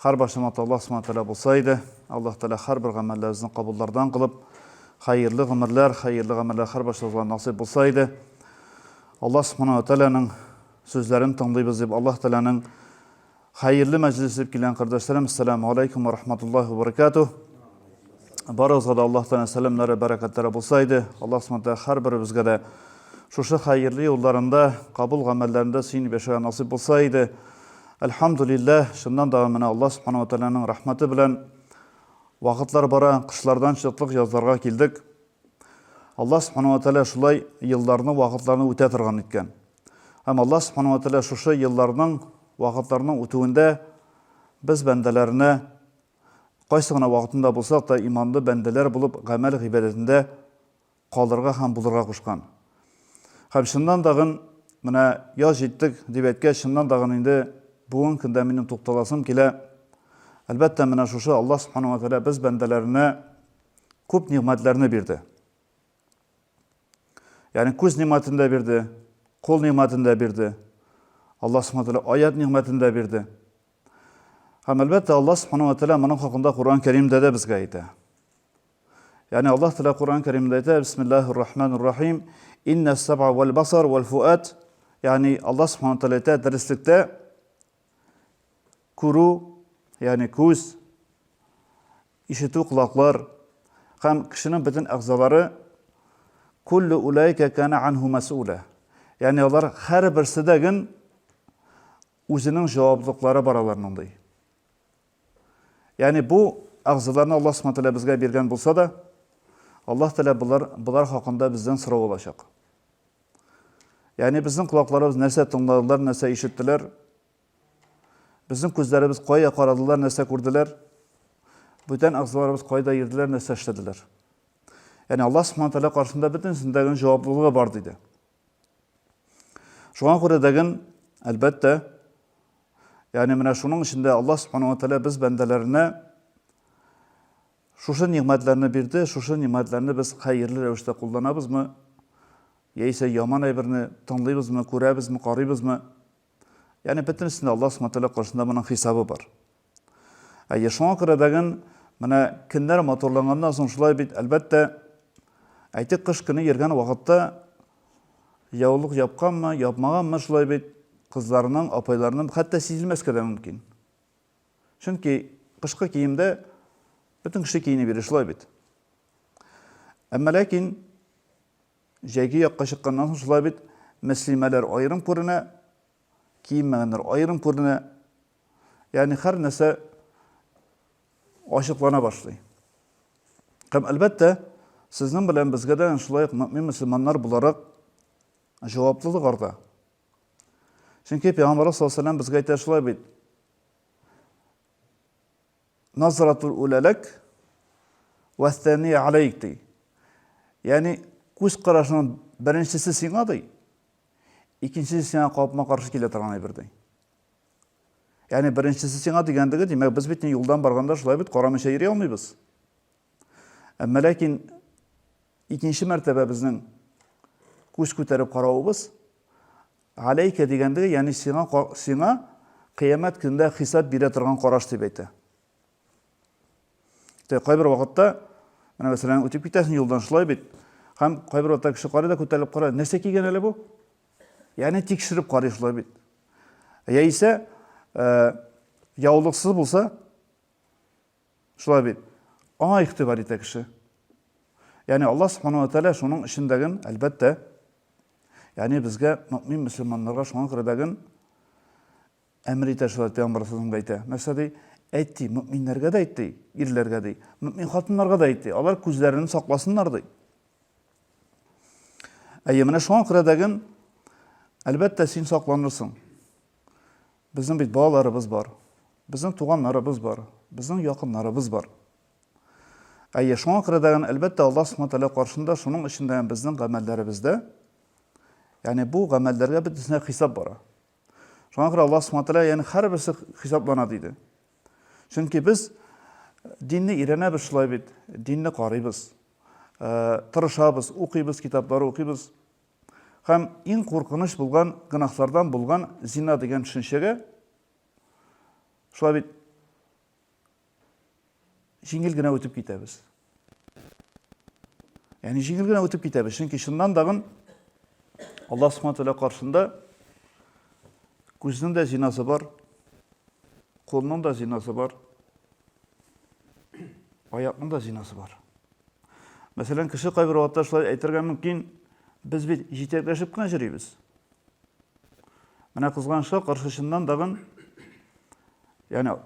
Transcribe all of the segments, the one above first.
Хәр башта матур Аллаһ Субхана Тәгалә булса иде. Аллаһ Тәгалә һәрбер гамәлләребезне кабуллардан кылып, хәерле гомерләр, хәерле гамәлләр хәр баршабызга насыйп булса иде. Аллаһ Субхана Тәгаләнең сүзләрен тыңлыйбыз дип, Аллаһ Тәгаләнең хәерле мәҗлесе дип килгән кардәшләрем, ассаламу алейкум ва рахматуллахи ва баракатуһ. Барыгызга да Аллаһ Тәгалә сәламнәре, бәрәкәтләре булса иде. Аллаһ Субхана Тәгалә һәрберебезгә дә шушы хәерле юлларында, кабул гамәлләрендә сөенеп яшәргә насыйп булса иде. Әлхәмдүлилләһ, чыннан да менә Аллаһ Субхана ва Тәгаләнең рәхмәте белән вакытлар бара, кышлардан чыктык, язларга килдек. Аллаһ Субхана ва Тәгалә шулай елларны, вакытларны үтә торган иткән. Һәм Аллаһ Субхана ва Тәгалә шушы елларның, вакытларның үтүендә без бәндәләренә кайсы гына вакытында булсак та иманлы бәндәләр булып гамәл гыйбадәтендә калырга һәм булырга кушкан. Һәм чыннан дагын, менә яз җиттек, дип әйткәч, чыннан дагын инде бүгенге көндә минем тукталасым килә. Әлбәттә, менә шушы Аллаһ Субхана ва Тәгалә без бәндәләренә күп нигъмәтләрне бирде. Ягъни күз нигъмәтен дә бирде, кул нигъмәтен дә бирде. Аллаһ Субхана Тәгалә аят нигъмәтен дә бирде. Һәм әлбәттә, Аллаһ Субхана ва Тәгалә моның хакында Коръән Кәримдә дә безгә әйтә. Ягъни Аллаһ Тәгалә Коръән Кәримдә әйтә, Бисмиллаһир Рахманир Рахим, иннәс сабъа вәл басар вәл фуат. Ягъни Аллаһ Субханаһу Тәгалә әйтә, дәреслектә күрү, ягъни күз, ишетү колаклар һәм кешенең бөтен әгъзалары куллу улайка кана анху масула. Ягъни алар һәрберсе дә гын үзенең җаваплылыклары бар аларның ди. Ягъни бу әгъзаларны Аллаһ Субхана Тәгалә безгә биргән булса да, Аллаһ Тәгалә болар, болар хакында бездән сорау алачак. Ягъни безнең колакларыбыз нәрсә тыңладылар, нәрсә ишеттеләр? Безнең күзләребез кая карадылар, нәрсә күрделәр? Бүтән әгъзаларыбыз кайда йөрделәр, нәрсә эшләделәр? Ягъни Аллаһ Субхана Тәгалә каршында бөтенесендә генә җаваплылыгы бар диде. Шуңа күрә дәген, әлбәттә, ягъни менә шуның өчен дә Аллаһ Субхану ва Тәгалә без бәндәләренә шушы нигъмәтләрне бирде, шушы нигъмәтләрне без хәерле рәвештә кулланабызмы, яисә яман әйберне тыңлыйбызмы, күрәбезме, карыйбызмы? Ягъни бөтенесендә Аллаһ Субхана Тәгалә каршында моның хисабы бар. Әйе, шуңа күрә дәген менә көннәр матурланганнан соң шулай бит, әлбәттә, әйтик, кыш көне йөргән вакытта яулык япканмы, япмаганмы шулай бит, кызларның, апайларның хәтта сизелмәскә дә мөмкин. Чөнки кышкы киемдә бөтен кеше киенеп йөри шулай бит. Әмма ләкин Җәйге якка чыкканнан соң шулай бит, мөслимәләр аерым күренә, киенмәгәннәр аерым күренә. Ягъни һәр нәрсә ачыклана башлый. Һәм, әлбәттә, сезнең белән безгә дә шулай ук мөэмин мөселманнар буларак җаваплылык арта. Чөнки Пәйгамбәрбез саллаллаһу алейһи ва сәлләм безгә әйтә шулай бит, назратул үлә ләк, вәстәния алейк, ди. Ягъни, күз карашының беренчесе сиңа, ди, икенчесе сиңа капма-каршы килә торган әйбер, ди. Ягъни, беренчесе сиңа дигәндеге, димәк, без бит юлдан барганда шулай бит карамыйча йөри алмыйбыз. Әмма ләкин икенче мәртәбә безнең күз күтәреп каравыбыз Галәйкә дигәндеге, ягъни сиңа, сиңа Кыямәт көндә хисап бирә торган караш дип әйтә. Тә кайбер вакытта, менә мәсәлән, үтеп китәсең юлдан шулай бит. Һәм кайбер вакытта кеше карый да күтәрелеп карый, нәрсә кигән әле бу? Ягъни тикшереп карый шулай бит. Яисә, э, яулыксыз булса, Шулай бит. Аңа игътибар итә кеше. Ягъни Аллаһ Субхана ва Тәгалә шуның эчендәген, әлбәттә, ягъни безгә, мөмин мөселманнарга шуңа күрә дәген әмер итә шулай Пәйгамбәр Саллаллаһу алейһи әйтә. Нәрсә ди? Әйт ди, мөминнәргә дә әйт ди, ирләргә ди, мөмин хатыннарга да әйт ди. Алар күзләрен сакласыннар ди. Әйе, менә шуңа күрә дәген, әлбәттә, син сакланырсың. Безнең бит балаларыбыз бар. Безнең туганнарыбыз бар. Безнең якыннарыбыз бар. Әйе, шуңа күрә дә, әлбәттә, Аллаһ Субхана Тәгалә каршында шуның өчен дә безнең гамәлләребездә, ягъни бу гамәлләргә бөтенесенә хисап бара. Шуңа күрә Аллаһ Субхана Тәгалә ягъни һәрберсе хисаплана диде. Чөнки без динне өйрәнәбез шулай бит, динне карыйбыз, тырышабыз, укыйбыз, китаплар укыйбыз. Һәм иң куркыныч булган гөнаһлардан булган зина дигән төшенчәгә шулай бит җиңел генә үтеп китәбез. Яни җиңел генә үтеп китәбез, чөнки чыннан дагын Алла Субхану тәгалә каршында күзнең дә зинасы бар, кулның да зинасы бар, аякның да зинасы бар. Мәсәлән, кеше кайбер вакытта шулай әйтергә мөмкин, без бит җитәкләшеп кенә йөрибез. Менә кызганычка каршы чыннан дагын, яни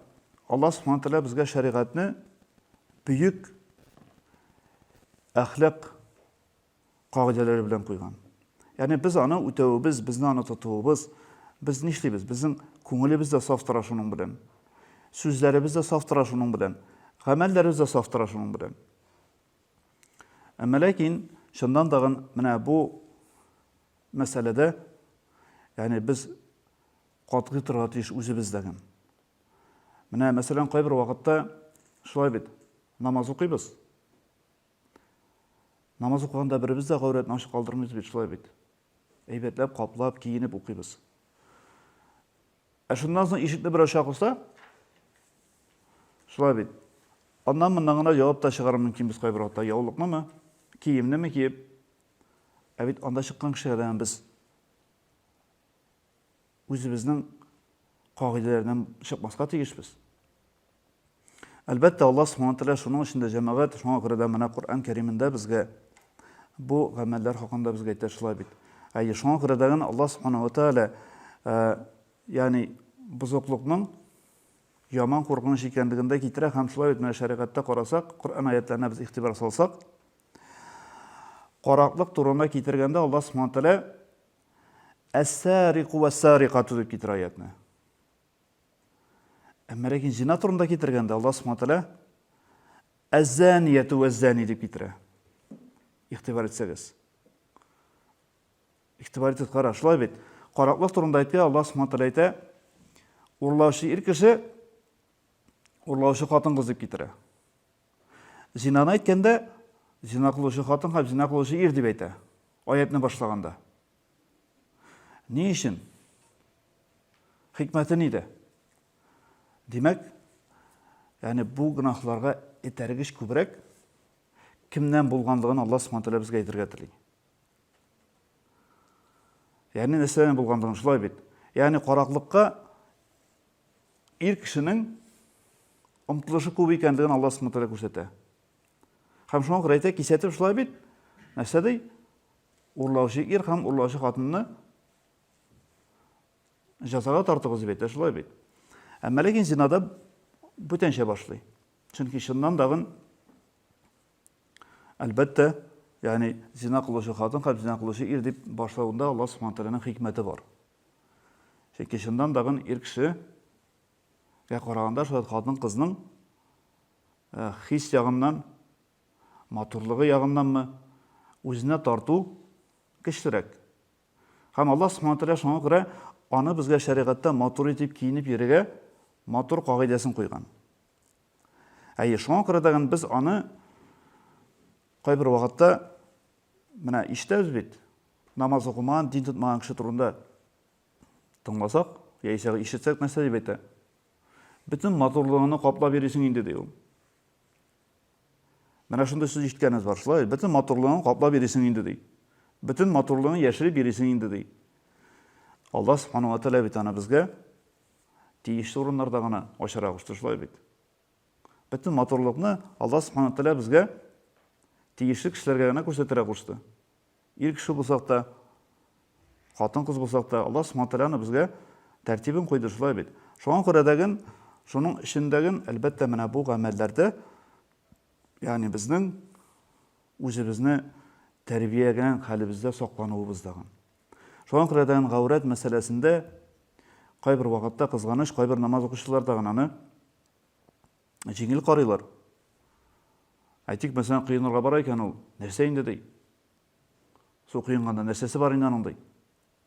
Алла Субхану Тәгалә безгә шәригатьне бөек әхлак кагыйдәләре белән куйган. Ягъни без аны үтәвебез, безне аны тотуыбыз, без нишлибез? Безнең күңелебез дә саф тора шуның белән. Сүзләребез дә саф тора шуның белән. Гамәлләребез дә саф тора шуның белән. Әмма ләкин чыннан тагын менә бу мәсьәләдә, ягъни без катгый торырга тиеш үзебездәген. Менә мәсәлән, кайбер вакытта шулай бит. Намаз укыйбыз. Намаз укыганда беребез дә гаурәтне ачык калдырмыйбыз бит, шулай бит. Әйбәтләп, каплап, киенеп укыйбыз. Ә шуннан соң ишекне берәү шакыса, шулай бит. Аннан моннан гына явап та чыгару мөмкин без кайбер вакытта. Яулыкнымы, киемнеме киеп. Ә бит анда чыккан кешеләрдән без үзебезнең кагыйдәләрдән чыкмаска тиешбез. Әлбәттә, Аллаһ Субхана Тәгалә шуның өчен дә җәмәгать, шуңа күрә дә менә Коръән Кәримендә безгә бу гамәлләр хакында безгә әйтә шулай бит. Әйе, шуңа күрә дә генә Аллаһ Субхана Тәгалә, ягъни бозыклыкның яман куркыныч икәнлеген дә китерә һәм шулай бит менә шәригатьтә карасак, Коръән аятларына без игътибар салсак, караклык турында китергәндә Аллаһ Субхана Тәгалә әссәрикү вәссәрикату дип китерә аятны. Әмма ләкин зина турында китергәндә Аллаһ Субхану тәгалә әззәнияту вәззәни дип китерә. Игътибар итсәгез. Игътибар итеп кара, шулай бит. Караклык турында әйтә Аллаһ Субхану тәгалә әйтә, урлаучы ир кеше, урлаучы хатын-кыз дип китерә. Зинаны әйткәндә, зина кылучы хатын һәм зина кылучы ир дип әйтә. Аятны башлаганда. Ни өчен? Хикмәте нидә? Димәк, яни бу гынахларга этәргеч күбрәк кемнән булганлыгын Аллаһ Субхану тәгалә безгә әйтергә тели. Яни нәрсәдән булганлыгын шулай бит. Яни караклыкка ир кешенең омтылышы күп икәнлеген Аллаһ Субхану тәгалә күрсәтә. Һәм шуңа күрә әйтә, кисәтеп шулай бит. Нәрсә ди? Урлаучы ир һәм урлаучы хатынны җәзага тартыгыз дип әйтә, шулай бит. Әмма ләкин зинада бүтәнчә башлый. Чөнки чыннан дагын әлбәттә, ягъни зина кылучы хатын һәм зина кылучы ир дип башлавында Аллаһ Субхану тәгаләнең хикмәте бар. Чөнки чыннан дагын ир кешегә караганда шулай хатын-кызның э, хис ягыннан Матурлыгы ягыннанмы, үзенә тарту көчлерәк. Һәм Аллаһ Субхана Тәгалә шуңа күрә аны безгә шәригатьтә матур итеп киенеп йөрергә матур кагыйдәсен куйган. Әйе, шуңа күрә дәген без аны кайбер вакытта менә ишетәбез бит, намаз укымаган, дин тотмаган кеше турында тыңласак, яисә ишетсәк, нәрсә дип әйтә? Бөтен матурлыгыңны каплап йөрисең инде, ди ул. Менә шундый сүз ишеткәнебез бар, шулай, бөтен матурлыгын каплап йөрисең инде, ди. Бөтен матурлыгын яшереп йөрисең инде, ди. Алла Субхану ва Тәгалә бит аны безгә тиешле урыннарда гына ачара кушты, шулай бит. Бөтен матурлыкны Алла Субхану ва Тәгалә безгә тиешле кешеләргә генә күрсәтергә кушты. Ир кеше булсак та, хатын-кыз булсак та, Аллаһ Субхана Тәгаләне безгә тәртибен куйды шулай бит. Шуңа күрә дәген, шуның эчендәген, әлбәттә, менә бу гамәлләрдә, ягъни безнең үзебезне тәрбиягән хәлебездә саклануыбыз дагын. Шуңа күрә дәген гаурәт мәсьәләсендә кайбер вакытта кызганыч, кайбер намаз укучылар дагын аны Җиңел карыйлар. Әйтик, мәсәлән, коенырга бара икән ул, нәрсә инде, ди. Су коенганда нәрсәсе бар инде аның, ди.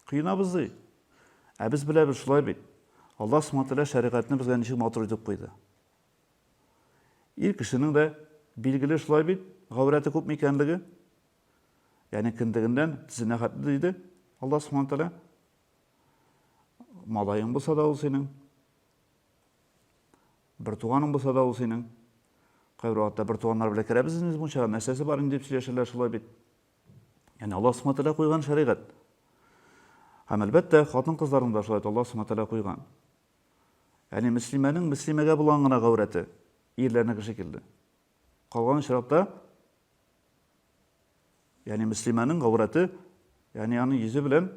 Коенабыз, ди. Ә без беләбез, шулай бит. Аллаһ Субхана Тәгалә шәригатьне безгә ничек матур итеп куйды. Ир кешенең дә билгеле шулай бит, гаурәте күпме икәнлеге. Ягъни кендегеннән тезенә хәтле диде Аллаһ Субхана Тәгалә. Малаең булса да ул синең, Бертуганың булса да ул синең. Кайбер вакытта бертуганнар белән керәбез инде мунчага, нәрсәсе бар инде дип сөйләшәләр шулай бит. Яни Аллаһ Субхану тәгалә куйган шәригать. Һәм әлбәттә, хатын-кызларны да шулай Аллаһ Субхану тәгалә куйган. Яни мөслимәнең мөслимәгә булган гына гаурәте, ирләрнеке шикелле. Калган очракта яни мөслимәнең гаурәте, яни аның йөзе белән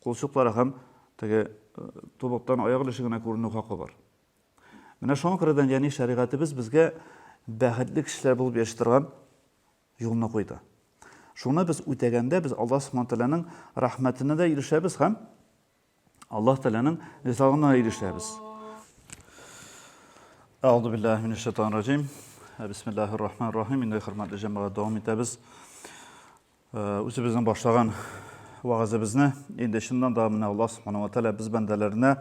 Кулчыклары һәм теге тубыктан аяк өлеше генә күренү хакы бар. Менә шуңа күрә дә дини шәригатебез безгә бәхетле кешеләр булып яши торган юлны куйды. Шуны без үтәгәндә, без Аллаһ Субхану Тәгаләнең рәхмәтенә дә ирешәбез һәм Аллаһ Тәгаләнең ризалыгына ирешәбез. Әгъзу биллаһи минәш шайтанир раҗим. Бисмиллаһир рахманир рахим. Инде хөрмәтле җәмәгать дәвам итәбез. Үзебезнең башлаган вәгазебезне инде чыннан да менә Аллаһ Субхану ва Тәгалә без бәндәләренә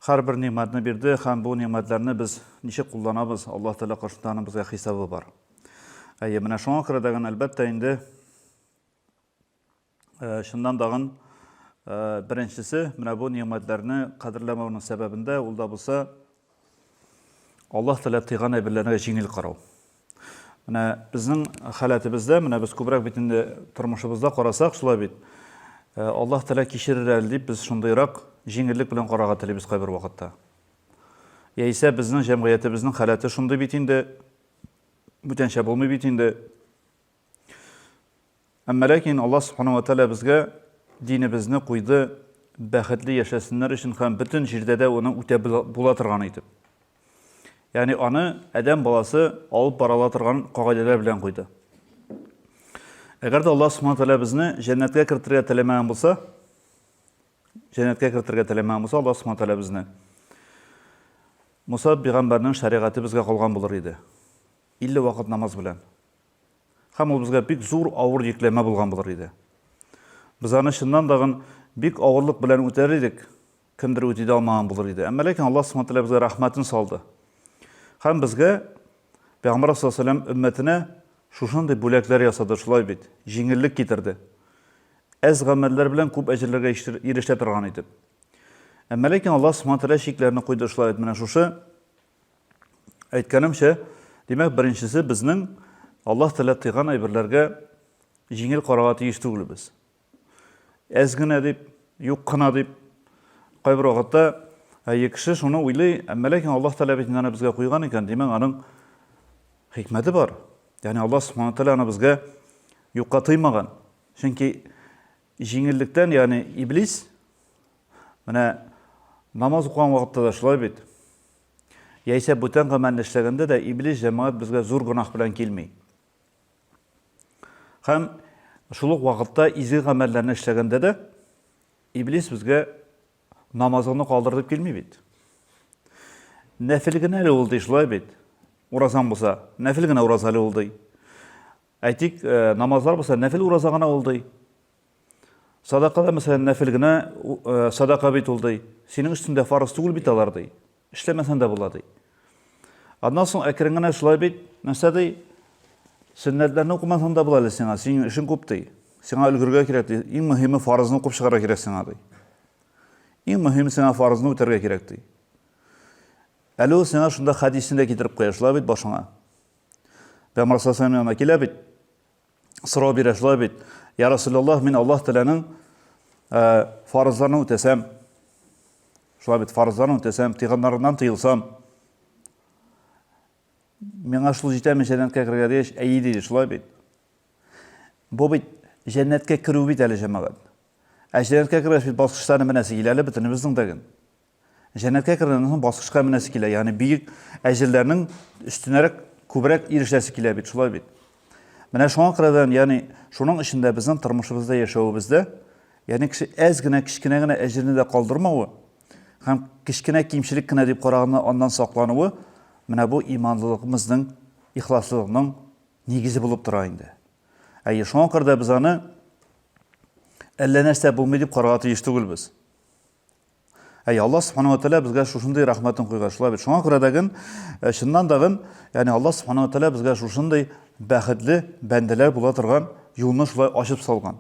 һәрбер нигъмәтне бирде һәм бу нигъмәтләрне без ничек кулланабыз, Аллаһ Тәгалә каршында аның безгә хисабы бар. Әйе, менә шуңа күрә дә генә әлбәттә инде э, чыннан дагын э, беренчесе менә бу нигъмәтләрне кадерләмәүнең сәбәбендә ул да булса Аллаһ теләп тыйган әйберләрне җиңел карау. Менә безнең халәтебездә, менә без күбрәк бит инде тормышыбызда карасак, шулай бит. Э, Аллаһ теләк кичерер әле дип без шундыйрак җиңеллек белән карарга телибез кайбер вакытта. Яисә безнең җәмгыятебезнең халәте шундый бит инде, бүтәнчә булмый бит инде. Әмма ләкин Алла Субхану ва Тәала безгә динебезне куйды, бәхетле яшәсеннәр өчен һәм бөтен җирдә дә аны үтә була торган итеп. Ягъни аны адәм баласы алып барала торган кагыйдәләр белән куйды. Әгәр дә Алла Субхану Тәала безне җәннәткә кертергә теләмәгән булса, җәннәткә кертергә теләмәгән булса, Алла Субхану Тәала безне Муса пәйгамбәрнең шәригате безгә калган булыр иде. 50 вакыт намаз белән. Һәм ул безгә бик зур авыр йөкләмә булган булыр иде. Без аны чыннан дагын бик авырлык белән үтәр идек, кемдер үти дә алмаган булыр иде. Әмма ләкин Аллаһ Субхаһу Тәгалә безгә рәхмәтен салды. Һәм безгә Пәйгамбәр саллаллаһу алейһи вәсәлләм өммәтенә шушындый бүләкләр ясады, шулай бит, җиңеллек китерде. Әз гамәлләр белән күп әҗерләргә ирешә торган итеп. Әмма ләкин Аллаһ Субхаһу Тәгалә чикләрне куйды, шулай бит, менә шушы Әйткәнемчә, димәк, беренчесе безнең Аллаһ Тәгалә тыйган әйберләргә җиңел карарга тиеш түгелбез. Әз генә дип, юк кына дип, кайбер вакытта әйе кеше шуны уйлый, әмма ләкин Аллаһ Тәгалә бит аны безгә куйган икән, димәк, аның хикмәте бар. Ягъни Аллаһ Субхану Тәгалә аны безгә юкка тыймаган. Чөнки Җиңеллектән, ягъни иблис, менә намаз укыган вакытта да шулай бит. Яисә бүтән гамәлне эшләгәндә дә иблис җәмәгать безгә зур гөнаһ белән килми. Һәм шул ук вакытта изге гамәлләрне эшләгәндә дә иблис безгә намазыңны калдыр дип килми бит. Нәфил генә әле ул ди, шулай бит. Уразаң булса, нәфил генә ураз әле ул ди. Әйтик, намазлар булса нәфел ураза гына ул ди. Садака да мәсәлән нәфел генә садака бит ул ди. Синең өстендә фарыз түгел бит алар ди. Эшләмәсәң дә була ди. Аннан соң әкрен генә шулай бит, нәрсә ди? Сөннәтләрне укымасаң да була әле сиңа, синең эшең күп ди. Сиңа өлгергә кирәк ди. Иң мөһиме фарызны укып чыгарга кирәк сиңа ди. Иң мөһиме сиңа фарызны үтәргә кирәк ди. Әле ул сиңа шунда хәдисне дә китереп куя, шулай бит башыңа. Бә Марсасам янына килә бит. Сорау бирә шулай бит. Я Расулаллах, мин Аллаһ Тәгаләнең э, фарызларын үтәсәм, шулай бит, фарызларын үтәсәм, тыйганнарыннан тыелсам, миңа шул җитәме җәннәткә керергә дигәч, әйе диде, шулай бит. Бу бит җәннәткә керү бит әле җәмәгать. Ә җәннәткә кергәч бит баскычларны менә сигеләле бөтенебезнең дә Җәннәткә кергәннән соң баскычка менәсе килә, ягъни бөек әҗерләрнең өстенәрәк күбрәк ирешәсе килә бит, шулай бит. Менә шуңа күрәдән, ягъни шуның өчен дә безнең тормышыбызда яшәвебездә, ягъни кеше әз генә, кечкенә генә әҗерне дә калдырмавы һәм кечкенә кимчелек кенә дип караганны аннан саклануы, менә бу иманлылыгыбызның, ихласлылыкның нигезе булып тора инде. Әйе, шуңа күрә дә без аны әллә нәрсә булмый дип карарга тиеш түгелбез. Әй, Аллаһ Субхану Атәлә безгә шушындый рәхмәтен куйган, шулай бит. Шуңа күрә дәген, э, чыннан дагын, ягъни Аллаһ Субхану Атәлә безгә шушындый бәхетле бәндәләр була торган юлны шулай ачып салган.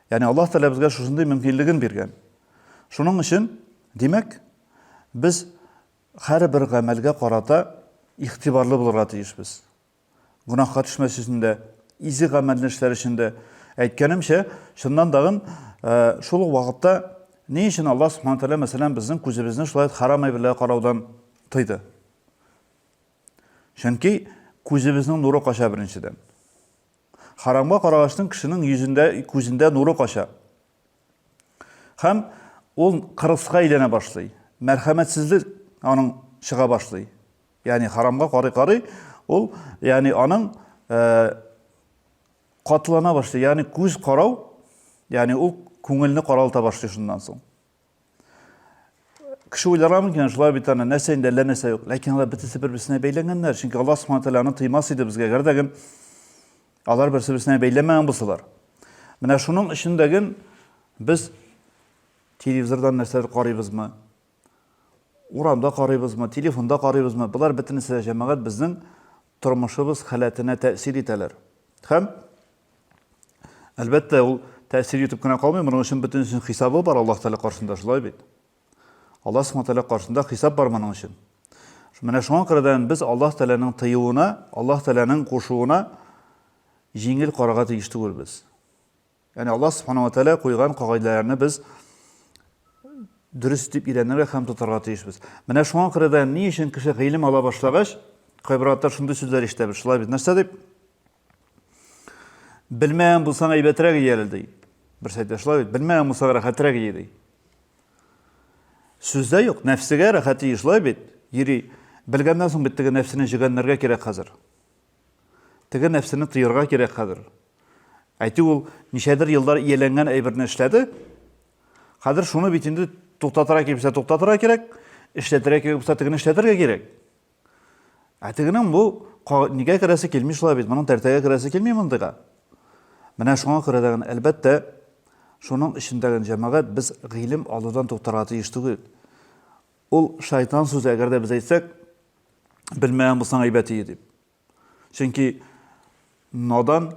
Ягъни Аллаһ Тәлә безгә шушындый мөмкинлеген биргән. Шуның өчен, димәк, без һәрбер гамәлгә карата игътибарлы булырга тиешбез. гөнаһка төшмәс өчен дә, изге гамәлне эшләр өчен дә. Әйткәнемчә, чыннан тагын шул ук вакытта ни өчен Аллаһ Субхану Тәгалә, мәсәлән, безнең күзебезне шулай харам әйберләргә караудан тыйды? Чөнки күзебезнең нуры кача беренчедән. Харамга карагачтын кешенең йөзендә, күзендә нуры кача. Һәм ул кырыска әйләнә башлый. Мәрхәмәтсезлек аның чыга башлый. Ягъни харамга карый-карый ул, ягъни аның катлана башлый, ягъни күз карау, ягъни ул күңелне каралта башлый шуннан соң. Кеше уйларга мөмкин, шулай бит аны нәрсә инде әллә нәрсә юк. Ләкин алар бөтенесе бер-берсенә бәйләнгәннәр. Чөнки Аллаһ Субхану тәгалә аны тыймас иде безгә, әгәр дә алар берсе-берсенә бәйләмәгән булсалар. Менә шуның өчен дә без телевизордан нәрсәдер карыйбызмы? Урамда карыйбызмы, телефонда карыйбызмы, болар бөтенесе дә җәмәгать безнең тормышыбыз халәтенә тәэсир итәләр. Һәм, әлбәттә, ул тәэсир итеп кенә калмый, моның өчен бөтенесенең хисабы бар Аллаһ Тәгалә каршында, шулай бит? Аллаһ Субхаһу Тәгалә каршында хисап бар моның өчен. Менә шуңа күрә без Аллаһ Тәгаләнең тыюына, Аллаһ Тәгаләнең кушуына җиңел карарга тиеш түгелбез. Ягъни Аллаһ Субхана ва Тәгалә куйган кагыйдәләрне без дөрес итеп өйрәнергә һәм тотарга тиешбез. Менә шуңа күрә дә ни өчен кеше гыйлем ала башлагач, кайбер атлар шундый сүзләр ишетәбез. Шулай бит, нәрсә дип? Белмәгән булсаң әйбәтрәк ие әле ди. Берсе әйтә, шулай бит, белмәгән булсаң рәхәтрәк ие ди. Сүздә юк, нәфсегә рәхәт ие, шулай бит? Йөри. Белгәннән соң бит теге нәфсене җөгәннәргә кирәк хәзер. Теге нәфсене тыярга кирәк хәзер. Әйтик, ул ничәдер еллар ияләнгән әйберне эшләде. Хәзер шуны бит инде туктатырга кирәксә туктатырга кирәк, эшләтергә кирәк булса тегене эшләтергә кирәк. Ә тегенең бу нигә керәсе килми шулай бит, моның тәртәгә керәсе килми мондыйга. Менә шуңа күрә дә әлбәттә, шуның эчендәге җәмәгать без гыйлем алудан туктарга тиеш түгел. Ул шайтан сүзе, әгәр дә без әйтсәк, белмәгән булсаң әйбәт иде дип. Чөнки надан,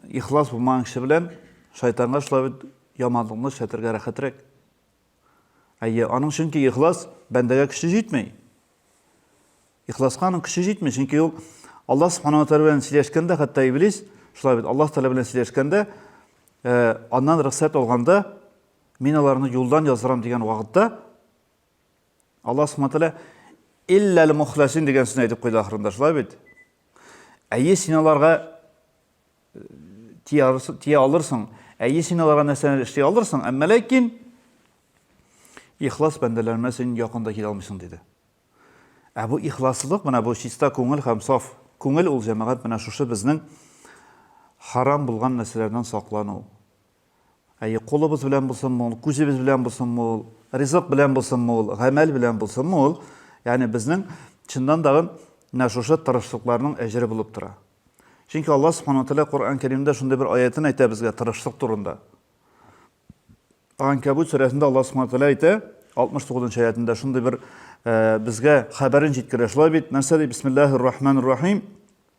ихлас булмаган кеше белән шайтанга шулай бит яманлыкны эшләтергә рәхәтрәк. Әйе, аның чөнки ихлас бәндәгә көче җитмей. Ихласка аның көче җитмей, чөнки ул Аллаһ Субхану ва белән сөйләшкәндә, хәтта Иблис, шулай бит, Аллаһ Тәгалә белән сөйләшкәндә, э, аннан рөхсәт алганда, Мин аларны юлдан яздырам дигән вакытта Аллаһ Субхану тәгалә илләл мухласин дигән сүзне әйтеп куйды ахырында, шулай бит? Әйе, син аларга э, тия алырсың, әйе, син аларга нәрсәләр эшли алырсың, әмма ләкин ихлас бәндәләремә син якында килә алмыйсың диде. Ә бу ихласлык, менә бу чиста күңел һәм саф күңел ул җәмәгать менә шушы безнең харам булган нәрсәләрдән саклану, Әйе, кулыбыз белән булсынмы ул, күзебез белән булсынмы ул, ризык белән булсынмы ул, гамәл белән булсынмы ул, ягъни безнең чыннан да менә шушы тырышлыкларның әҗере булып тора. Чөнки Алла Субхану ва Тәгалә Коръән Кәримдә шундый бер аятен әйтә безгә тырышлык турында. Анкабут сүрәсендә Алла Субхану ва Тәгалә әйтә, 69 нчы аятында шундый бер безгә хәбәрен җиткерә. Шулай бит, нәрсә ди? Бисмиллаһир-рахманир-рахим.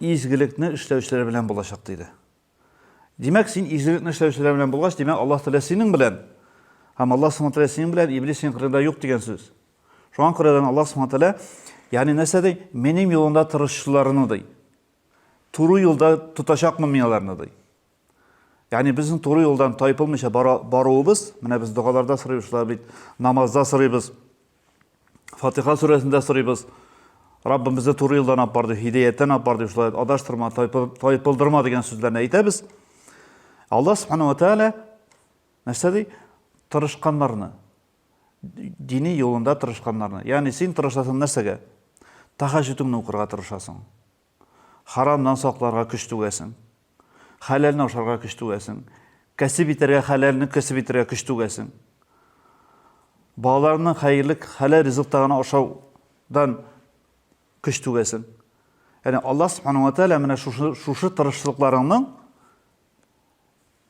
Изгелекне эшләүчеләр белән булачак, диде. Димәк, син изгелекне эшләүчеләр белән булгач, димәк, Аллаһ Тәгалә синең белән. Һәм Аллаһ Субхану Тәгалә синең белән, Иблис синең кырында юк дигән сүз. Шуңа күрәдән Аллаһ Субхану Тәгалә, ягъни нәрсә ди? Минем юлымда тырышчыларны ди. Туры юлда тотачакмын мин аларны ди. Ягъни безнең туры юлдан тайпылмыйча баруыбыз, менә без догаларда сорыйбыз шулай бит, намазда сорыйбыз, Фатиха сүрәсендә сорыйбыз. Раббым безне туры юлдан алып бар дип, һидәяттән алып бар дип, шулай адаштырма, тайпылдырма дигән сүзләрне әйтәбез. Алла субхана ва тәгалә нәрсә ди? Тырышканнарны, дини юлында тырышканнарны. Ягъни син тырышасың нәрсәгә? Тәһәҗҗүдеңне укырга тырышасың. Харамнан сакларга көч түгәсең. Хәләлне ашарга көч түгәсең. Кәсеп итәргә, хәләлне кәсеп итәргә көч түгәсең. Балаларның хәерле, хәләл ризыкта гына ашаудан көч түгәсең. Яни Аллаһ Субхану ва Тәгалә менә шушы шушы тырышлыкларыңның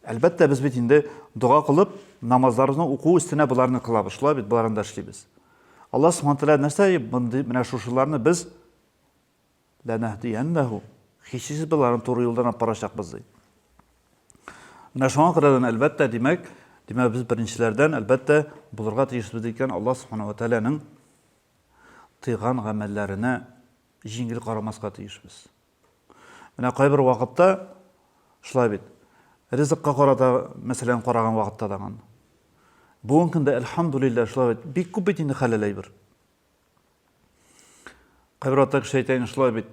Әлбәттә, без бит инде дога кылып, намазларны уку өстенә боларны кылабыз, шулай бит, боларны да эшлибез. Аллаһ Субхану ва Тәгалә нәрсә, менә шушыларны без Ләнәһдиәннәһу, һичшиксез без аларны туры юлдан алып барачакбыз, ди. Менә шуңа күрә дә, әлбәттә, димәк, димәк, без беренчеләрдән, әлбәттә, булырга тиешбез, ди икән, Аллаһ Субхана ва Тәгаләнең тыйган гамәлләренә җиңел карамаска тиешбез. Менә кайбер вакытта шулай бит. Ризыкка карата, мәсәлән, караган вакытта тагын. Бүген көндә, әлхәмдүлилләһ, шулай бит. Бик күп бит инде хәләл әйбер. Кайбер атта кеше әйтә инде шулай бит.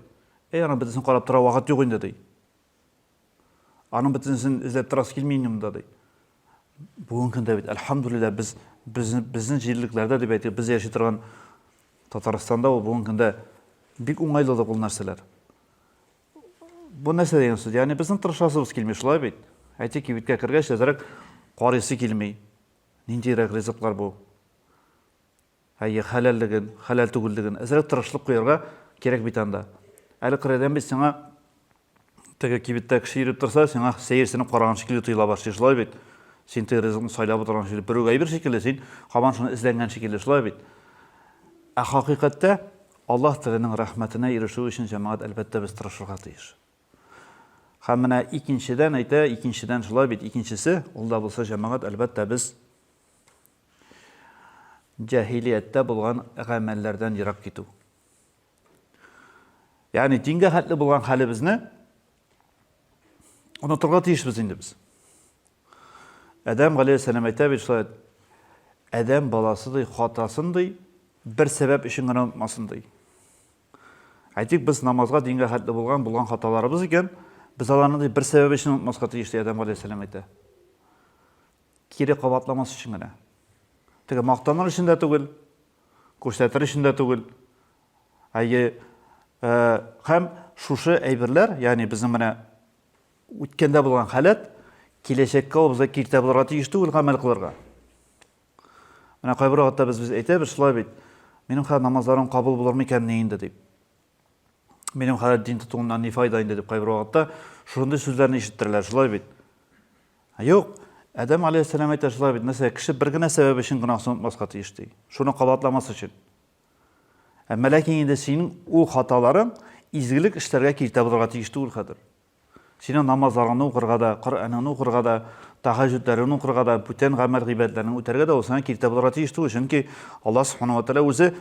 Әй, аның бөтенесен карап тора вакыт юк инде, ди. Аның бөтенесен эзләп торасы килми инде монда, ди. Бүгенге көндә бит, әлхәмдүлилләһ, без безнең җирлекләрдә дип әйтик, без яши торган Татарстанда ул бүгенге көндә бик уңайлы да ул нәрсәләр. Бу нәрсә дигән сүз? Ягъни безнең тырышасыбыз килми, шулай бит? Әйтик, кибеткә кергәч, әзрәк карыйсы килми. Ниндирәк ризыклар бу? Әйе, хәләллеген, хәләл түгеллеген. Әзрәк тырышлык куярга кирәк бит анда. Әле кырыйдан бит сиңа теге кибеттә кеше йөреп торса, сиңа сәерсенеп караган шикелле тоела башлый, шулай бит? Син теге ризыкны сайлап утырган шикелле, берүк әйбер шикелле, син һаман шуны эзләнгән шикелле, шулай бит? Ә хакыйкатьтә Аллаһ Тәгаләнең рәхмәтенә ирешү өчен, җәмәгать, әлбәттә, без тырышырга тиеш. Һәм менә икенчедән әйтә, икенчедән шулай бит, икенчесе, ул да булса, җәмәгать, әлбәттә, без Җаһилияттә булган гамәлләрдән ерак китү. Ягъни дингә хәтле булган хәлебезне онытырга тиешбез инде без. Адәм галәйһиссәлам әйтә бит шулай, Адәм баласы ди хатасын ди, бер сәбәп өчен генә онытмасын ди. Әйтик, без намазга дингә хәтле булган булган хаталарыбыз икән, без аларны ди бер сәбәп өчен онытмаска тиеш ди Адәм галәйһиссәлам әйтә. Кире кабатламас өчен генә. Теге мактаныр өчен дә түгел, күрсәтер өчен дә түгел. Әйе, һәм шушы әйберләр, ягъни безнең менә үткәндә булган халәт, киләчәккә ул безгә киртә булырга тиеш түгел гамәл кылырга. Менә кайбер вакытта без без әйтәбез шулай бит. Минем хәзер намазларым кабул булыр микәнни инде дип. Минем хәзер дин тотуымнан ни файда инде дип кайбер вакытта шундый сүзләрне ишеттерәләр шулай бит. Ә юк! Адәм галәйһиссәлам әйтә шулай бит, мәсәлән, кеше бер генә сәбәп өчен гөнаһсын онытмаска тиеш, ди. Шуны кабатламас өчен. Әмма ләкин инде синең ул хаталарың изгелек эшләргә киртә булырга тиеш түгел хәзер. Синең намазларыңны укырга да, Коръәнеңне укырга да, тәһәҗҗүдләреңне укырга да, бүтән гамәл гыйбадәтләрне үтәргә дә ул сиңа киртә булырга тиеш түгел, чөнки Аллаһ Субхана ва Тәгалә үзе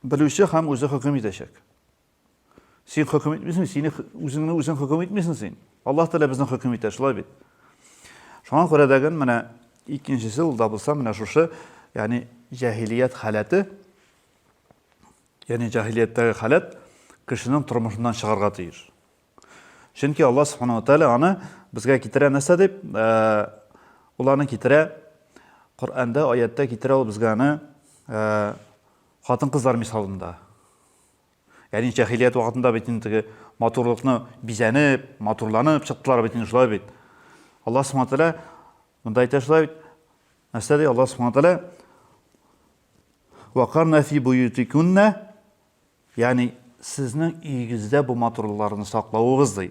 белүче һәм үзе хөкем итәчәк. Син хөкем итмисең, сине үзеңне үзең хөкем итмисең син. Аллаһ Тәгалә безне хөкем итә, шулай бит. Шуңа күрә дәген менә икенчесе ул да булса менә шушы, ягъни җаһилият халәте, ягъни җаһилияттәге халәт кешенең тормышыннан чыгарга тиеш. Чөнки Алла Субхану Тәгалә аны безгә китерә нәрсә дип, э, ул аны китерә Коръәндә, аятта китерә ул безгә аны э, хатын-кызлар мисалында. Ягъни җаһилият вакытында бит инде теге матурлыкны бизәнеп, матурланып чыктылар бит инде шулай бит. Аллаһ Субхану тәгалә монда әйтә шулай бит. Нәрсә ди Аллаһ Субхану тәгалә? Вакарна фи буютикунна, ягъни сезнең өегездә бу матурлыкларны саклавыгыз ди.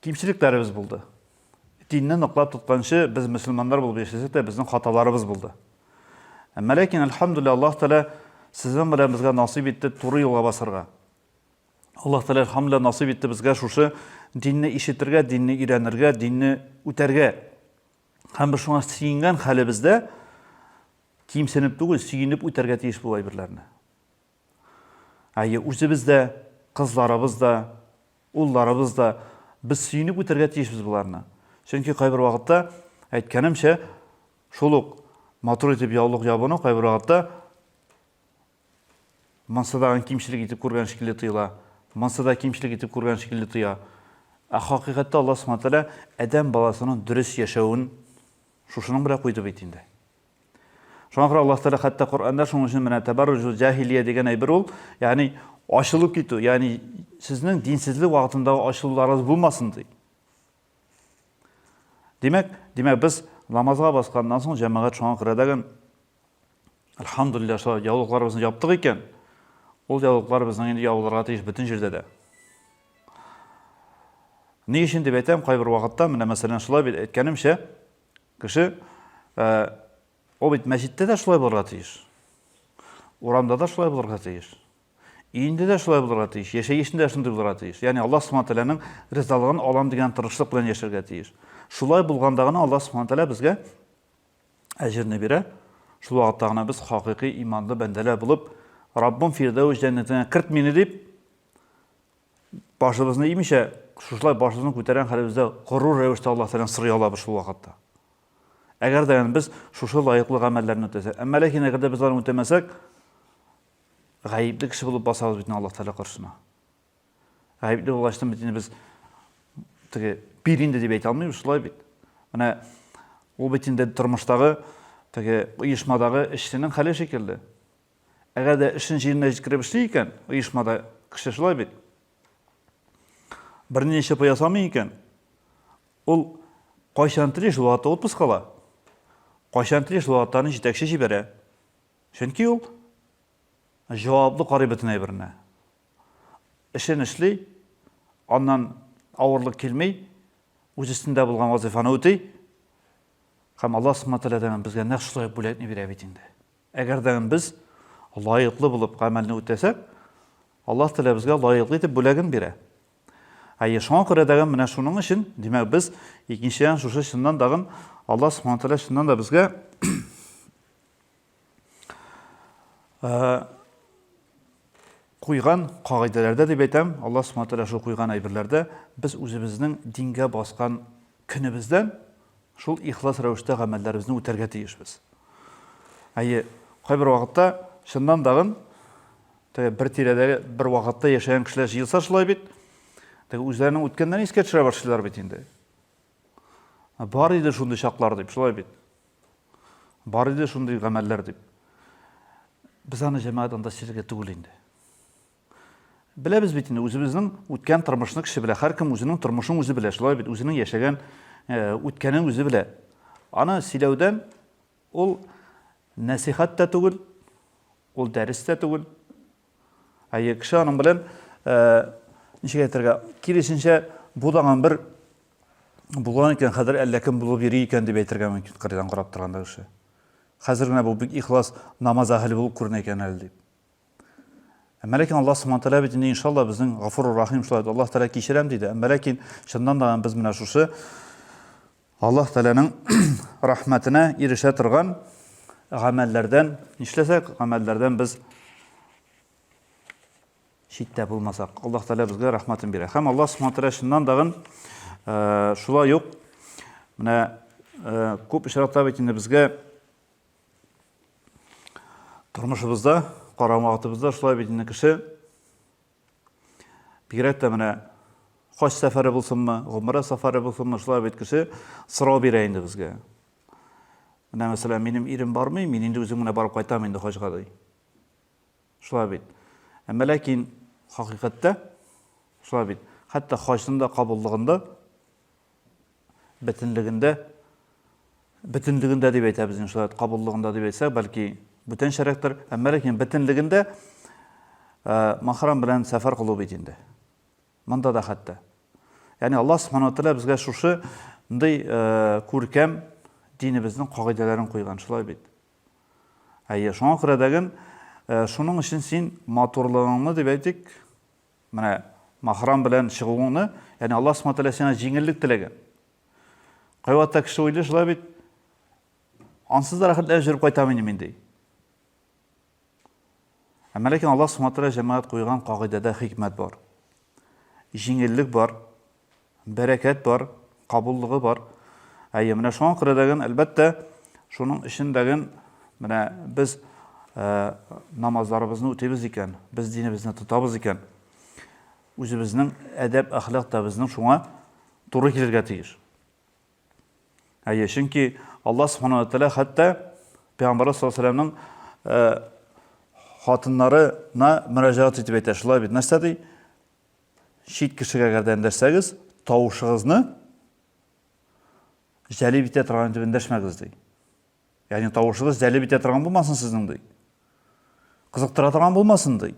Кимчелекләребез булды. Динне ныклап тотканчы, без мөселманнар булып яшәсәк тә, безнең хаталарыбыз булды. Әмма ләкин, әлхәмдүлилләһ, Аллаһ Тәгалә сезнең белән безгә насыйп итте туры юлга басарга. Аллаһ Тәгалә, әлхәмдүлилләһ, насыйп итте безгә шушы динне ишетергә, динне өйрәнергә, динне үтәргә. Һәм без шуңа сөенгән хәлебездә кимсенеп түгел, сөенеп үтәргә тиеш бу әйберләрне. Әйе, үзебез дә, кызларыбыз да, улларыбыз да, без сөенеп үтәргә тиешбез боларны. Чөнки кайбер вакытта, әйткәнемчә, шул ук матур итеп яулык ябыну кайбер вакытта мансадагын кимчелек итеп күргән шикелле тоела. Мансада кимчелек итеп күргән шикелле тоя. Ә хакыйкатьтә Аллаһ Субхаһу ва Тәгалә адәм баласының дөрес яшәвен шушының белән куйды бит инде. Шуңа күрә Аллаһ Тәгалә хәтта Коръәндә шуның өчен менә тәбәрруҗул җахилия дигән әйбер ул, ягъни ачылып китү, ягъни сезнең динсезлек вакытында ачылуларыгыз булмасын ди. Димәк, димәк без намазга басканнан соң җәмәгать шуңа күрә дәген Альхамдулилла, шо яулыкларыбызны яптык икән, ул яулыклар безнең инде ябылырга тиеш бөтен җирдә дә. Ни өчен дип әйтәм, кайбер вакытта, менә мәсәлән, шулай бит әйткәнемчә, Кеше, ул бит мәчеттә дә шулай булырга тиеш. Урамда да шулай булырга тиеш. Өендә дә шулай булырга тиеш, яшәешендә дә шундый булырга тиеш. Ягъни Аллаһ Субхану тәгаләнең ризалыгын алам дигән тырышлык белән яшәргә тиеш. Шулай булганда гына Аллаһ Субхану тәгалә безгә әҗерне бирә. Шул вакытта гына без хакыйкый иманлы бәндәләр булып, Раббым Фирдәүс җәннәтенә керт мине дип, Башыбызны имичә, шушылай башыбызны күтәргән хәлебездә горур рәвештә Аллаһ Тәгаләдән сорый алабыз шул вакытта. Әгәр дә без шушы лаеклы гамәлләрне үтәсәк, әмма ләкин әгәр дә без аларны үтәмәсәк, гаепле кеше булып басабыз бит Аллаһ Тәгалә каршына. Гаепле булгач, бит инде без теге бир инде дип әйтә алмыйбыз, шулай бит. Менә ул бит инде тормыштагы теге оешмадагы эшченең хәле шикелле. Әгәр дә эшен җиренә җиткереп эшли икән, оешмада кеше шулай бит. Берни эчеп ясамый икән, ул кайчан тели шул вакытта отпуск ала. Кайчан тели шул вакытта аны җитәкче җибәрә. Чөнки ул җаваплы карый бөтен әйберенә. Эшен эшли, аннан авырлык килми, үз өстендә булган вазифаны үти. Һәм Аллаһ Субхану ва Тәгалә безгә нәкъ шулай бүләкне бирә бит инде. Әгәр дә без лаеклы булып гамәлне үтәсәк, Аллаһ Тәгалә безгә лаеклы итеп бүләген бирә. Әйе, шуңа күрә дә менә шуның өчен, димәк, без икенчедән шушы чыннан дагын Аллаһ Субхану Тәгалә чыннан да безгә Куйган кагыйдәләрдә дип әйтәм, Аллаһ Субхана Тәгалә шул куйган әйберләрдә без үзебезнең дингә баскан көнебездән шул ихлас рәвештә гамәлләребезне үтәргә тиешбез. Әйе, кайбер вакытта чыннан дагын теге бер тирәдә бер вакытта яшәгән кешеләр җыелса шулай бит, теге үзләренең үткәннәрен искә төшерә башлыйлар бит инде. Бар иде шундый чаклар дип, шулай бит. Бар иде шундый гамәлләр дип. Без аны җәмәгать анда сөйләргә түгел инде. Беләбез бит инде үзебезнең үткән тормышны кеше белә. Һәркем үзенең тормышын үзе белә. Шулай бит үзенең яшәгән э, үткәнен үзе белә. Аны сөйләүдән ул нәсихәт тә түгел, ул дәрес тә түгел. Әйе, кеше аның белән, ничек әйтергә, киресенчә бутаган бер булган икән, хәзер әллә кем булып йөри икән дип әйтергә мөмкин, кырыйдан карап торганда кеше. Хәзер генә бу бик ихлас намаз әһеле булып күренә икән әле дип. Әмма ләкин Аллаһ Субхану тәгалә бит инде иншалла безнең Гафур Рахим шулай Аллаһ тәгалә кичерәм диде. Әмма ләкин чыннан да без менә шушы Аллаһ Тәгаләнең рәхмәтенә ирешә торган гамәлләрдән нишләсәк, гамәлләрдән без читтә булмасак, Аллаһ Тәгалә безгә рәхмәтен бирә. Һәм Аллаһ Субхану Тәгалә шуннан дагын э, шулай ук менә э, күп очракта бит инде безгә тормышыбызда, карама вакытыбызда шулай бит инде кеше Бигрәк тә менә хаҗ сәфәре булсынмы, гомерә сафары булсынмы, шулай бит кеше сорау бирә инде безгә. Менә мәсәлән, минем ирем бармый, мин инде үзем генә барып кайтам инде хаҗга ди. Шулай бит. Әмма ләкин хакыйкатьтә шулай бит. Хәтта хаҗның да кабуллыгында бөтенлегендә, бөтенлегендә дип әйтәбез инде шулай, кабуллыгында дип әйтсәк, бәлки бүтәнчәрәктер, әмма ләкин бөтенлегендә мәхрам белән сәфәр кылу бит инде. Монда да хәтта. Ягъни Алла субхана тәгалә безгә шушы ндый күркәм динебезнең кагыйдәләрен куйган, шулай бит. Әйе, шуңа күрә дәген шуның өчен син матурлыгыңны дип әйтик, Менә мәхрам белән чыгуыңны, яни Аллаһ Субхаһу Тәгалә сиңа җиңеллек теләгән. Кайвакытта кеше уйлый шулай бит, ансыз да рәхәтләнеп җөреп кайтам инде мин ди. Әмма ләкин Аллаһ Субхаһу Тәгалә җәмәгать куйган кагыйдәдә хикмәт бар. Җиңеллек бар, Бәрәкәт бар, кабуллыгы бар. Әйе, менә шуңа күрә дәген, әлбәттә, шуның өчен дәген, менә без намазларыбызны үтибез икән, без динебезне тотабыз икән, үзебезнең әдәп, әхлак та безнең шуңа туры килергә тиеш. Әйе, чөнки Алла Субхану Тәлә хәтта Пәйгамбарыбыз саллаллаху алейһи вәсәлләмнең хатыннарына мөрәҗәгать итеп әйтә, шулай бит, нәрсә ди? Чит кешегә гә дәндәшсәгез, тавышыгызны җәлеп итә торган итеп эндәшмәгез, ди. Ягъни тавышыгыз җәлеп итә торган булмасын сезнең, ди. Кызыктыра торган булмасын, ди.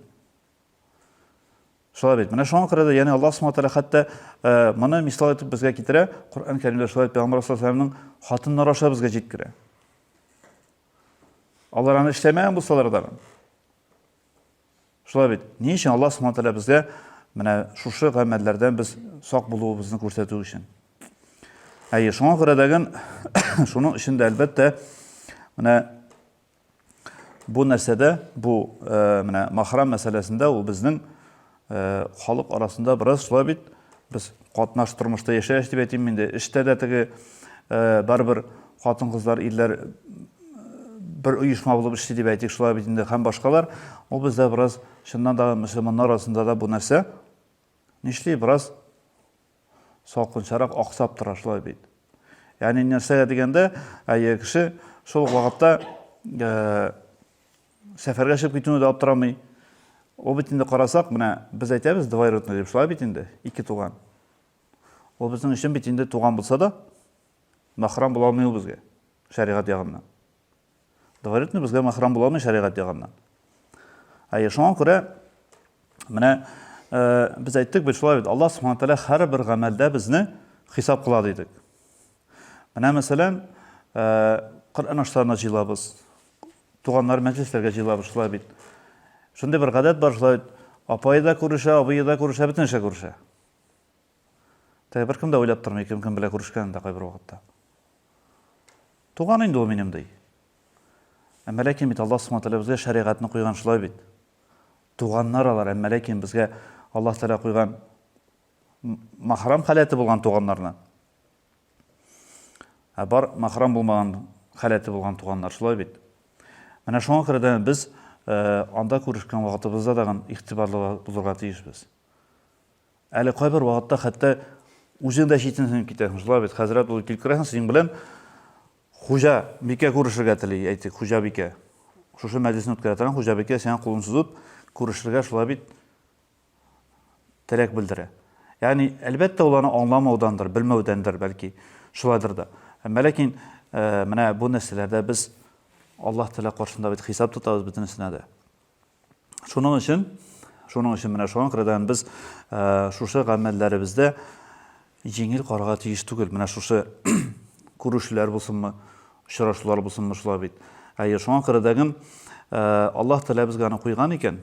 Шулай бит. Менә шуңа күрә дә, ягъни Аллаһ Субхаһу тәгалә хәтта э, моны мисал итеп безгә китерә, Коръән Кәримдә шулай Пәйгамбәр саллаллаху алейһи ва сәлламның хатыннары аша безгә җиткерә. Алар аны эшләмәгән булсалар да, Шулай бит. Ни өчен Аллаһ Субхану тәгалә безгә менә шушы гамәлләрдән без сак булуыбызны күрсәтү өчен. Әйе, шуңа күрә дәген шуның өчен дә әлбәттә менә бу нәрсәдә, бу э, менә махрам мәсьәләсендә ул безнең Халык арасында бераз шулай бит. Без катнаш тормышта яшәеш дип әйтим инде. Эштә дә теге барыбер хатын-кызлар, ирләр бер оешма булып эшли дип әйтик, шулай бит инде һәм башкалар. Ул бездә бераз чыннан да мөселманнар арасында да бу нәрсә нишли бераз салкынчарак аксап тора шулай бит. Ягъни нәрсәгә дигәндә, әйе кеше шул вакытта Сәфәргә чыгып китүне дә аптырамый. Ул бит инде карасак, менә без әйтәбез двоюродный дип, шулай бит инде, ике туган. Ул безнең өчен бит инде туган булса да, мәхрам була алмый ул безгә шәригать ягыннан. Двоюродный безгә мәхрам була алмый шәригать ягыннан. Әйе, шуңа күрә менә без әйттек бит шулай бит, Аллаһ Субхану тәгалә һәрбер гамәлдә безне хисап кыла дидек. Менә мәсәлән, Коръән ашларына җыелабыз. Туганнар мәҗлесләргә җыелабыз шулай бит. Шундый бер гадәт бар шулай бит. Апайы да күрешә, абыйы да күрешә, бөтен кеше күрешә. Теге беркем дә уйлап тормый, кем кем белән күрешкәнен дә кайбер вакытта. Туган инде ул минем ди. Әмма ләкин бит Аллаһ Субхану тәгалә безгә шәригатьне куйган шулай бит. Туганнар алар, әмма ләкин безгә Аллаһ Тәгалә куйган мәхрам халәте булган туганнарны. Ә бар мәхрам булмаган халәте булган туганнар, шулай бит. Менә шуңа күрә дә без э, анда күрешкән вакытыбызда тагын игътибарлы булырга тиешбез. Әле кайбер вакытта хәтта үзең дә читенсенеп китәсең, шулай бит. Хәзрәт булып килеп керәсең, синең белән хуҗа бикә күрешергә тели, әйтик, хуҗа бикә. Шушы мәҗлесне үткәрә торган хуҗа бикә сиңа кулын сузып, күрешергә шулай бит теләк белдерә. Ягъни, әлбәттә, ул аны аңламаудандыр, белмәүдәндер, бәлки, шулайдыр да. Әмма ләкин менә бу нәрсәләрдә без Аллаһ Тәгалә каршында бит хисап тотабыз бөтен нәрсәдә дә. Шуның өчен, шуның өчен менә шуңа күрә дә без шушы гамәлләребездә җиңел карарга тиеш түгел. Менә шушы күрешүләр булсынмы, очрашулар булсынмы, шулай бит. Әйе, шуңа күрә дә Аллаһ Тәгалә безгә аны куйган икән.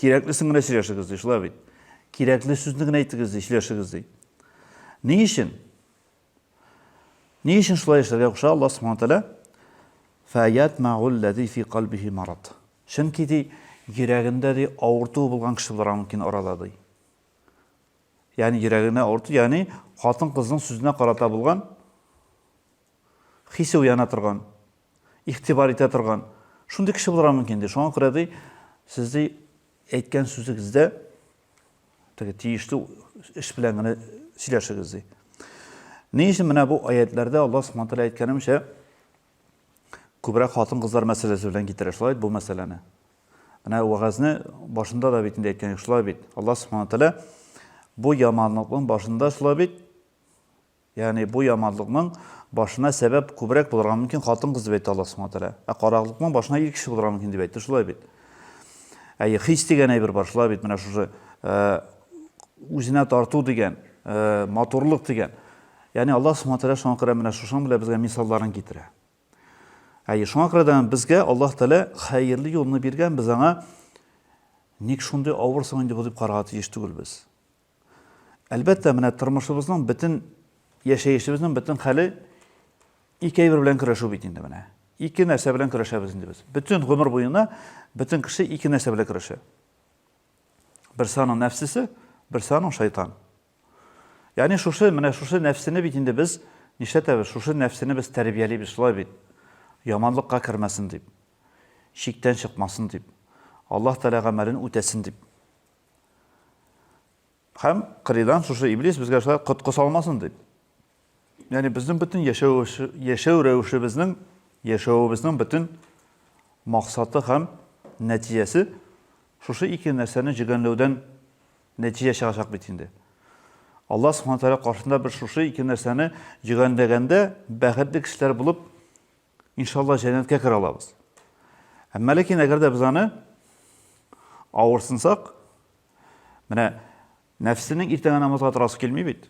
Кирәклесен генә сөйләшегез ди, шулай бит. Кирәкле сүзне генә әйтегез ди, сөйләшегез ди. Ни өчен? Ни өчен шулай эшләргә куша Аллаһ Субхану тәгалә? Фаят магул лази фи калбихи марат. Чөнки ди, йөрәгендә ди авырту булган кеше булырга мөмкин арада ди. Ягъни йөрәгенә авырту, ягъни хатын-кызның сүзенә карата булган хисе уяна торган игътибар итә торган шундый кеше булырга мөмкин, ди. Шуңа күрә, ди, сез, ди, әйткән сүзегездә теге тиешле эш белән генә сөйләшегез, ди. Ни өчен менә бу аятләрдә Алла Субхану тәгалә әйткәнемчә күбрәк хатын-кызлар мәсьәләсе белән китерә шулай бу мәсьәләне. Менә вәгазьне башында да бит инде әйткән шулай бит. Алла Субхану тәгалә бу яманлыкның башында шулай бит Ягъни бу яманлыкның башына сәбәп күбрәк булырга мөмкин хатын-кыз дип әйтте Аллаһ Субхана Тәгалә. Ә караклыкның башына ир кеше булырга мөмкин дип әйтте, шулай бит? Әйе, хис дигән әйбер бар, шулай бит? Менә шушы үзенә тарту дигән, матурлык дигән. Ягъни Аллаһ Субхана Тәгалә шуңа күрә менә шушының белән безгә мисалларын китерә. Әйе, шуңа күрә дә безгә Аллаһ Тәгалә хәерле юлны биргән, без аңа ник шундый авыр соң инде бу дип карарга тиеш түгел без. Әлбәттә, менә тормышыбызның бөтен яшәешебезнең бөтен хәле ике әйбер белән көрәшү бит инде менә. Ике нәрсә белән көрәшәбез инде без. Бөтен гомер буена бөтен кеше ике нәрсә белән көрәшә. Берсе аның нәфсесе, берсе аның шайтан. Ягъни шушы менә шушы нәфсене бит инде без нишләтәбез? Шушы нәфсене без тәрбиялибез шулай бит. Яманлыкка кермәсен дип, чиктән чыкмасын дип, Аллаһ Тәгалә гамәлен үтәсен дип. Һәм кырыйдан шушы иблис безгә шулай коткы салмасын дип. Яни безнең бөтен яшәү яшәү рәвешебезнең, яшәвебезнең бөтен максаты һәм нәтиҗәсе шушы ике нәрсәне җигәнләүдән нәтиҗә чыгачак бит инде. Алла Субхану тәгалә каршында без шушы ике нәрсәне җигәнләгәндә бәхетле кешеләр булып Иншалла җәннәткә керә алабыз. Әмма ләкин әгәр дә без аны авырсынсак, менә нәфсенең иртәгә намазга торасы килми бит.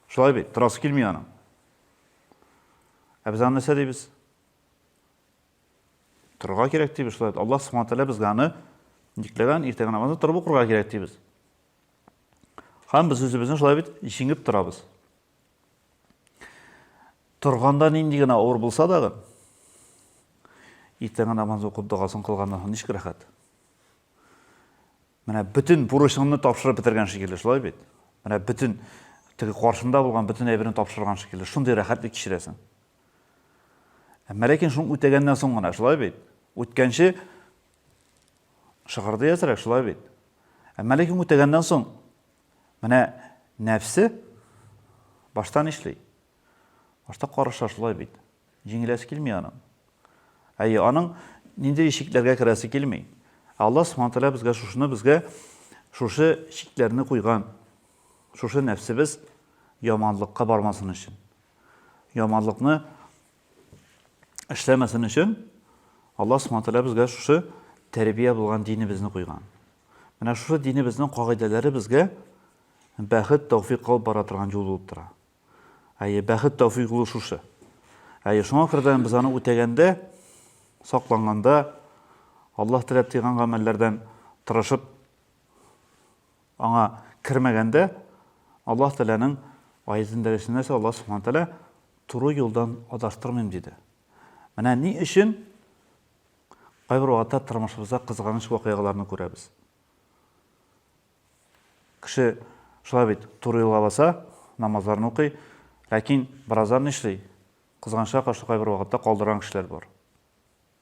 Шулай бит, торасы килми аның. Ә без аны нәрсә дибез? Торырга кирәк дибез шулай. Аллаһ Субхану тәгалә безгә аны никләгән иртәгә намазны торып укырга кирәк дибез. Һәм без үзебезне шулай бит җиңеп торабыз. Торганда нинди генә авыр булса дагы, иртәнге намазны укып догасын кылганнан соң ничек рәхәт. Менә бөтен бурычыңны тапшырып бетергән шикелле, шулай бит? Менә бөтен теге каршында булган бөтен әйберне тапшырган шикелле, шундый рәхәтлек кичерәсең. Әмма ләкин шуны үтәгәннән соң гына, шулай бит? Үткәнче шыгырды әзрәк, шулай бит? Әмма ләкин үтәгәннән соң Менә нәфсе башта нишли? Башта карыша шулай бит. Җиңеләсе килми аның. Әйе, аның нинди чикләргә керәсе килми. Аллаһ Субхану тәгалә безгә шушыны безгә шушы чикләрне куйган. Шушы нәфсебез яманлыкка бармасын өчен. Яманлыкны эшләмәсен өчен Аллаһ Субхану тәгалә безгә шушы тәрбия булган динебезне куйган. Менә шушы динебезнең кагыйдәләре безгә бәхет, тәүфик алып бара торган юл булып тора. Әйе, бәхет, тәүфик юлы шушы. Әйе, шуңа күрә без аны үтәгәндә, сакланганда, Аллаһ теләп тыйган гамәлләрдән тырышып Аңа кермәгәндә, Аллаһ Тәгаләнең аятендә рәсемнәрчә Аллаһ Субхана Тәгалә туры юлдан адаштырмыйм диде. Менә ни өчен кайбер вакытта тормышыбызда кызганыч вакыйгаларны күрәбез. Кеше шулай бит, туры юлга баса, намазларын укый, ләкин бераздан нишли? Кызганычка каршы кайбер вакытта калдырган кешеләр бар.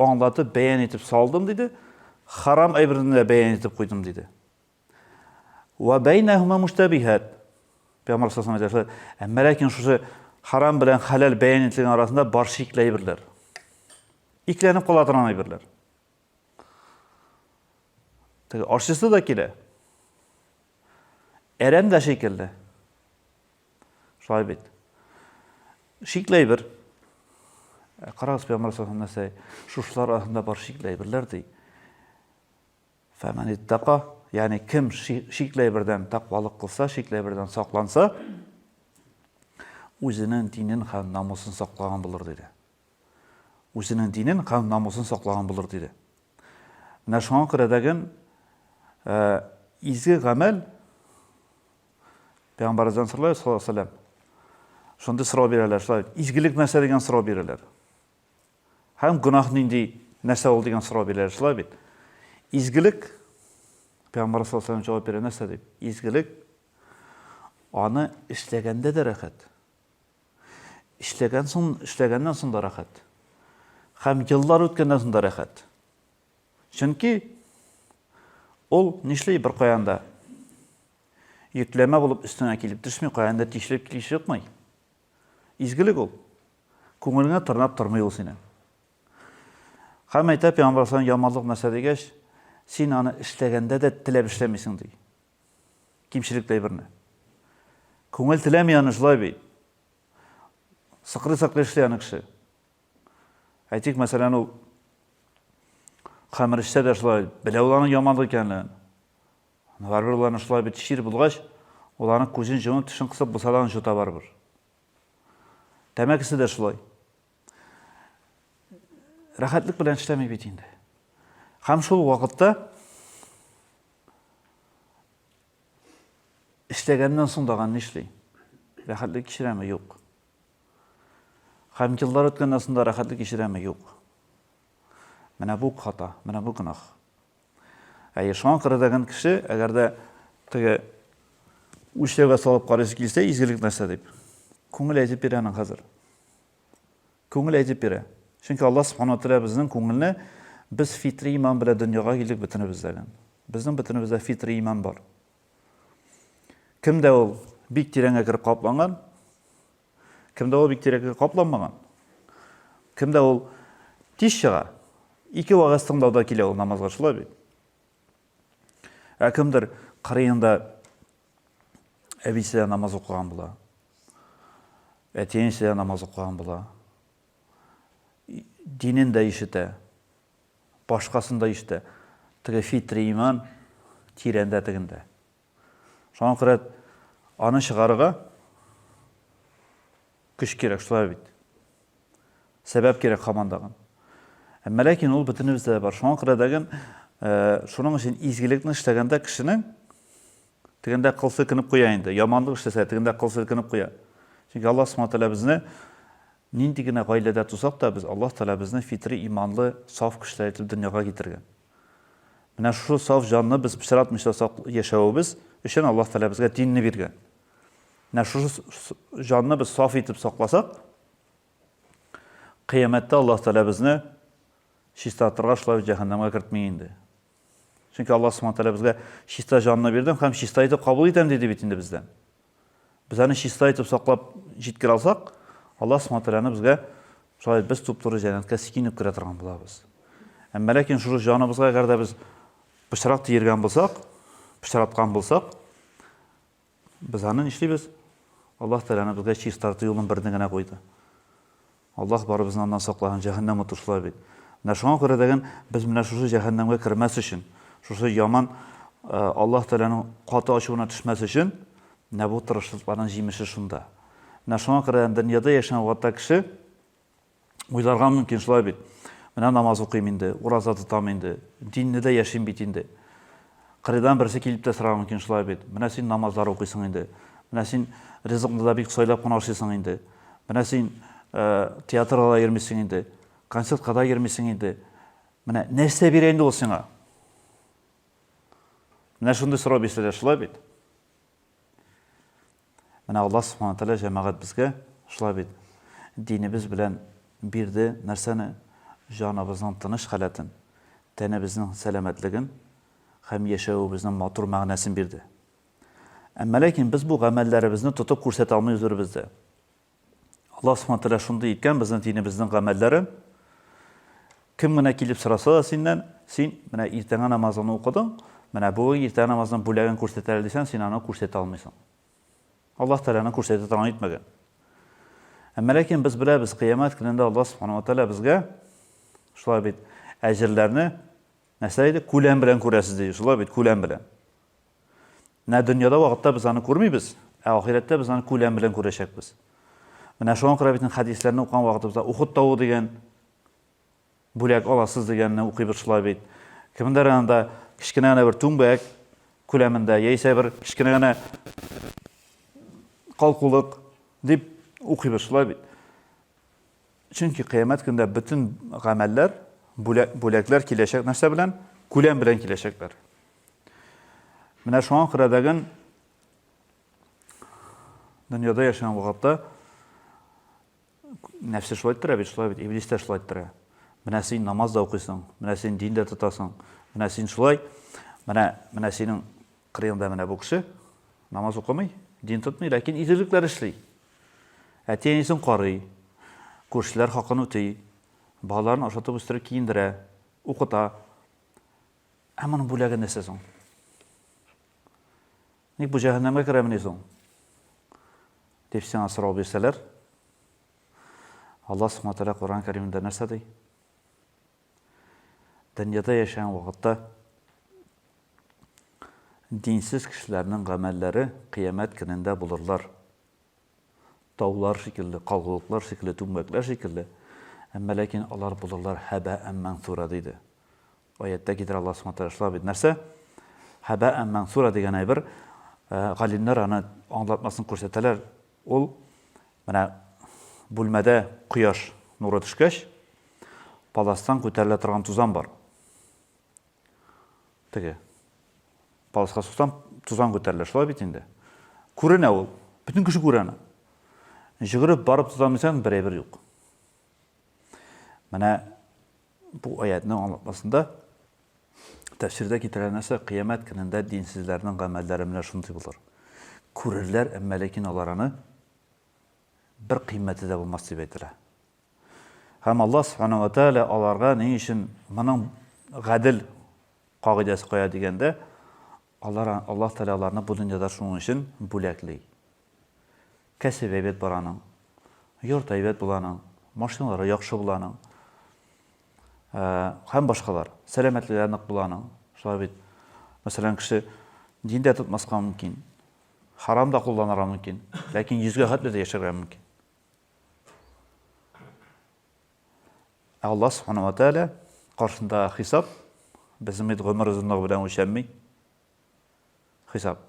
Аңлатып, бәян итеп салдым, диде. Харам әйберне дә бәян итеп куйдым, диде. Ва бәйнәһүмә муштәбихәт. Пәйгамбәр саллаллаху алейһи ва сәлләм әйтә, әмма ләкин шушы харам белән хәләл бәян ителгән арасында бар шикле әйберләр. Икеләнеп кала торган әйберләр. Теге ашчысы да килә. Әрәм дә шикелле. Шулай бит. Шикле әйбер. Э, карагыз, пәйгамбәр саллаллаху нәрсә, шушылар арасында бар шикле әйберләр ди. Фәмән иттака, ягъни кем шикле әйбердән тәкъвалык кылса, шикле әйбердән сакланса, үзенең динен һәм намусын саклаган булыр диде. Үзенең динен һәм намусын саклаган булыр диде. Менә шуңа күрә дәген э, изге гамәл Пәйгамбәребездән сорыйлар, саллаллаху алейһи вәсәлләм. Шундый сорау бирәләр, шулай. Изгелек нәрсә дигән сорау бирәләр. Һәм гөнаһ нинди нәрсә ул дигән сорау бирәләр, шулай бит. Изгелек Пәйгамбәр саллаллаху алейһи вәсәлләм җавап бирә нәрсә дип? Изгелек аны эшләгәндә дә рәхәт. Эшләгән соң, эшләгәннән соң да рәхәт. Һәм еллар үткәннән соң да рәхәт. Чөнки ул нишли бер каянда? Йөкләмә булып өстеңә килеп төшми, каяндыр тишелеп килеп чыкмый. Изгелек ул. Күңелеңә тырнап тормый ул синең. Һәм әйтә Пәйгамбәр салам яманлык нәрсә дигәч, син аны эшләгәндә дә теләп эшләмисең ди. Кимчелекле әйберне. Күңел теләми аны шулай бит. Сыкрый-сыкрый эшли аны кеше. Әйтик, мәсәлән, ул хәмер эчсә дә шулай, белә ул аның яманлык икәнлеген. Барыбер ул аны шулай бит чир булгач, ул аны күзен җомып, тешен кысып булса да аны җота барыбер. Тәмәкесе дә шулай. Рәхәтлек белән эшләми бит инде. Һәм шул вакытта эшләгәннән соң даган нишли? Рәхәтлек кичерәме? Юк. Һәм еллар үткәннән соң да рәхәтлек кичерәме? Юк. Менә бу хата, менә бу гөнаһ. Әйе, шуңа күрә дә гел кеше, әгәр дә теге үлчәүгә салып карыйсы килсә, изгелек нәрсә дип, күңел әйтеп бирә аның хәзер. Күңел әйтеп бирә. Чөнки Алла Субхану Тәгалә безнең күңелне без фитри иман белән дөньяга килдек бөтенебездә гел. Безнең бөтенебездә фитри иман бар. Кемдә ул бик тирәнгә кереп капланган, Кемдә ул бик тирәккә капламаган? Кемдә ул тиз чыга? Ике вагаз тыңлауда килә ул намазга шулай бит. Ә кемдер кырыенда әбисе намаз укыган була. Әтиенче намаз укыган була. Динен дә ишетә. Башкасын да ишетә. Теге фитри иман тирәндә тегендә. Шуңа күрә аны чыгарырга көч кирәк, шулай бит. Сәбәп кирәк хаман дагын. Әмма ләкин ул бөтенебездә бар. Шуңа күрә дәген э, шуның өчен изгелекне эшләгәндә кешенең тегендә кыл селкенеп куя инде. Яманлык эшләсә, тегендә кыл селкенеп куя. Чөнки Аллаһ Субхану тәгалә безне нинди генә гаиләдә тусак та, без Аллаһ тәгалә безне фитри иманлы, саф кешеләр итеп дөньяга китергән. Менә шушы саф җанны без пычратмыйча сак яшәвебез өчен Аллаһ Тәгалә безгә динне биргән. Менә шушы җанны без саф итеп сакласак, кыямәттә Аллаһ Тәгалә безне чистартырга шулай җәһәннәмгә кертми инде. Чөнки Аллаһ Субхану Тәгалә безгә чиста җанны бирдем һәм чиста итеп кабул итәм диде бит инде бездән. Без аны чиста итеп саклап җиткерә алсак, Аллаһ Субхаһу ва Тәгаләне безгә шулай без туп-туры җәннәткә сикинеп керә торган булабыз. Әмма ләкин шул җаныбызга әгәр дә без пычрак тиергән булсак, пычраткан булсак, без аны нишлибез? Аллаһ Тәгаләне безгә чистарту юлын берне генә куйды. Аллаһ барыбызны аннан саклаһын, җәһәннәм уты шулай бит. Менә шуңа күрә дәген без менә шушы җәһәннәмгә кермәс өчен, шушы яман Аллаһ Тәгаләнең каты ачуына төшмәс өчен, менә бу тырышлыкларның җимеше шунда. Менә шуңа күрә дөньяда яшәгән вакытта кеше уйларга мөмкин шулай бит. Менә намаз укыйм инде, ураза тотам инде, динне дә яшим бит инде. Кырыйдан берсе килеп тә сорарга мөмкин шулай бит, менә син намазлар укыйсың инде, менә син ризыкны да бик сайлап кына ашыйсың инде, менә син театрга да йөрмисең инде, концертка да йөрмисең инде, менә нәрсә бирә инде ул сиңа? Менә шундый сорау бирсәләр шулай бит. Менә Аллаһ Субхана Тәгалә җәмәгать безгә шулай бит, динебез белән бирде нәрсәне? Җаныбызның тыныч халәтен, тәнебезнең сәламәтлеген һәм яшәвебезнең матур мәгънәсен бирде. Әмма ләкин без бу гамәлләребезне тотып күрсәтә алмый үзлребездә. Аллаһ Субхана Тәгалә шундый иткән безнең динебезнең гамәлләрен. Кем генә килеп сораса да синнән, син менә иртәңге намазыңны укыдың, менә бүген иртәңге намазның бүләген күрсәтәләр дисәң, син аны күрсәтә алмыйсың. Аллаһ Тәгаләне күрсәтә торган итмәгән. Әмма ләкин без беләбез, кыямәт көнендә Аллаһ Субхана Тәгалә безгә шулай бит әҗерләрне нәрсә иде? Күләм белән күрәсез ди, шулай бит, күләм белән. Менә дөньяда вакытта без аны күрмибез, ә ахирәттә без аны күләм белән күрәчәкбез. Менә шуңа күрә бит хәдисләрне укыган вакытыбызда Ухуд тавы дигән бүләк аласыз дигәнне укыйбыз шулай бит. Кемдер анда кечкенә генә бер түңбәк күләмендә яисә бер кечкенә генә калкулык дип укыйбыз шулай бит. Чөнки кыямәт көндә бөтен гамәлләр, бүләкләр киләчәк нәрсә белән? Күләм белән киләчәкләр. Менә шуңа күрә дәген дөньяда яшәгән вакытта нәфсе шулай иттерә бит, шулай бит, иблис тә шулай иттерә. Менә син намаз да укыйсың, менә син дин дә тотасың, менә син шулай, менә менә синең Крымда менә бу кеше намаз укымый, дин тотмый, ләкин игелекләр эшли. Әти-әнисен карый, күршеләр хакын үти, балаларын ашатып үстереп киендерә, укыта. Ә моның бүләге нәрсә соң? Ник бу җәһәннәмгә керәмени соң? Дип сиңа сорау бирсәләр, Аллаһ Субхаһу ва Тәгалә Коръән Кәримендә нәрсә ди? Дөньяда яшәгән вакытта динсез кешеләрнең гамәлләре кыямәт көнендә булырлар. Таулар шикелле, калгулыклар шикелле, түңгәкләр шикелле, әмма ләкин алар булырлар хәбә әммән сура диде. Аяттә китерә Аллаһ Субхану тәгалә шулай бит. Нәрсә? Хәбә әммән сура дигән әйбер, галимнәр аны аңлатмасын күрсәтәләр, Ул менә бүлмәдә кояш нуры төшкәч, паластан күтәрелә торган тузан бар. Теге паласка суксаң, тузан күтәрелә, шулай бит инде. Күренә ул, бөтен кеше күрә аны. Җөгереп барып тузан үзән бер әйбер юк. Менә Бу аятьнең аңлатмасында, тәфсирдә китерелгән нәрсә, Кыямәт көнендә динсезләрнең гамәлләре менә шундый булыр. Күрерләр, әмма ләкин алар аны бер кыйммәте дә булмас дип әйтелә. Һәм Аллаһ Субхана ва Тәгалә аларга ни өчен моның гадел кагыйдәсе кая дигәндә, Алар, Аллаһ Тәгалә аларны бу дөньяда шуның өчен бүләкли. Кәсебе әйбәт бар аның, йорты әйбәт була аның, машиналары яхшы була аның, һәм башкалар. Сәламәтлеге нык була аның. Шулай бит. Мәсәлән, кеше дин дә тотмаска мөмкин, харам да кулланырга мөмкин, ләкин йөзгә хәтле дә яшәргә мөмкин. Ә Аллаһ Субхана ва Тәгалә каршындагы хисап безнең бит гомер озынлыгы белән үлчәнми. Хисап.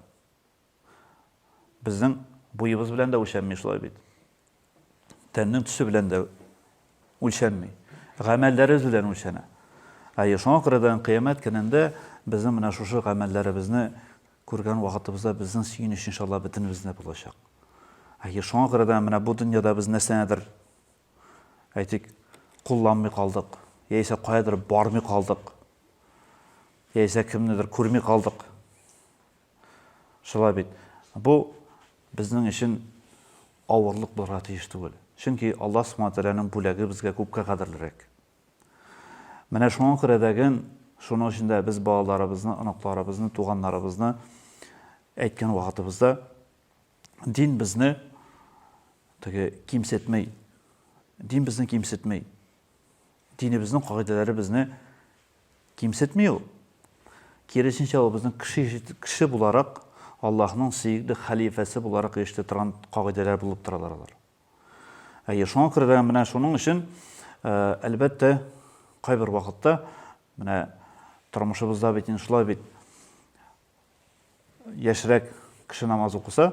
Безнең буебыз белән дә үлчәнми шулай бит. Тәннең төсе белән дә үлчәнми. Гамәлләребез белән үлчәнә. Әйе, шуңа күрә дә кыямәт көнендә безнең менә шушы гамәлләребезне күргән вакытыбызда безнең сөенеч иншалла бөтенебездә булачак. Әйе, шуңа күрә дә менә бу дөньяда без нәрсәнедер әйтик, кулланмый калдык, яисә каядыр бармый калдык, яисә кемнедер күрми калдык. Шулай бит. Бу безнең өчен авырлык булырга тиеш түгел. Чөнки Аллаһ Субхаһу Тәгаләнең бүләге безгә күпкә кадерлерәк. Менә шуңа күрә дәген, шуның өчен дә без балаларыбызны, оныкларыбызны, туганнарыбызны әйткән вакытыбызда дин безне теге кимсетмей. Дин безне кимсетмей. Динебезнең кагыйдәләре безне кимсетмей ул. Киресенчә, ул безнең кеше, кеше буларак Аллаһның сөекле хәлифәсе буларак ишетә торган кагыйдәләр булып торалар алар. Әйе, шуңа күрә дә менә шуның өчен, э, әлбәттә, кайбер вакытта менә тормышыбызда бит инде шулай бит Яшьрәк кеше намаз укыса,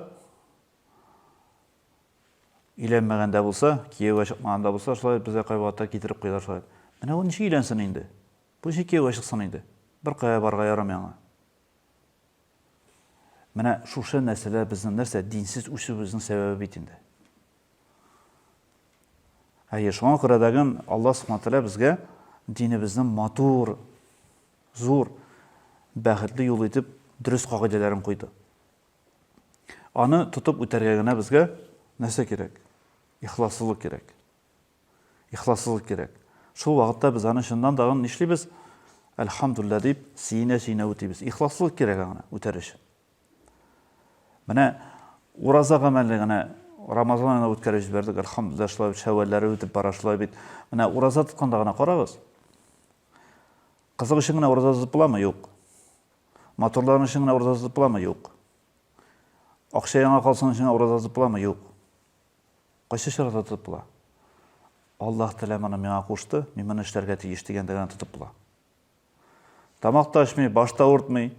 өйләнмәгән дә булса, кияүгә чыкмаган да булса, шулай безгә кайвакытта китереп куялар шулай. Менә ул ничек өйләнсен инде? Бу ничек кияүгә чыксын инде? Беркая барырга ярамый аңа. Менә шушы нәрсәләр безнең нәрсә динсез үсүебезнең сәбәбе бит инде. Әйе, шуңа күрә дәген Алла Субхану тәгалә безгә динебезнең матур зур, бәхетле юл итеп дөрес кагыйдәләрен куйды. Аны тотып үтәргә генә безгә нәрсә кирәк? Ихласлылык кирәк. Ихласлылык кирәк. Шул вакытта без аны чыннан тагын нишлибез? Әлхамдуллилла дип, сөенә-сөенә үтибез. Ихласлылык кирәк аңа үтәр өчен. Менә ураза гамәле генә Рамазан айына үткәреп җибәрдек, әлхамдуллилла, шулай бит, шәвәлләре үтеп бара, шулай бит. Менә ураза тотканда гына карагыз. Кызык өчен генә ураза тотып буламы? Юк. Матурлыгың өчен генә ураза тотып буламы? Юк. Акча яңа калсын өчен генә ураза тотып буламы? Юк. Кайсы чорда тотып була? Аллаһ Тәгалә моны миңа кушты, мин моны эшләргә тиеш дигәндә генә тотып була. Тамак та ачмый, баш та авыртмый,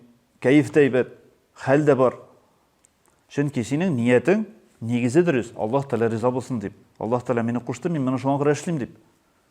кәеф тә әйбәт, хәл дә бар. Чөнки синең ниятең нигезе дөрес, Аллаһ Тәгалә риза булсын дип. Аллаһ Тәгалә мине кушты, мин моны шуңа күрә эшлим дип.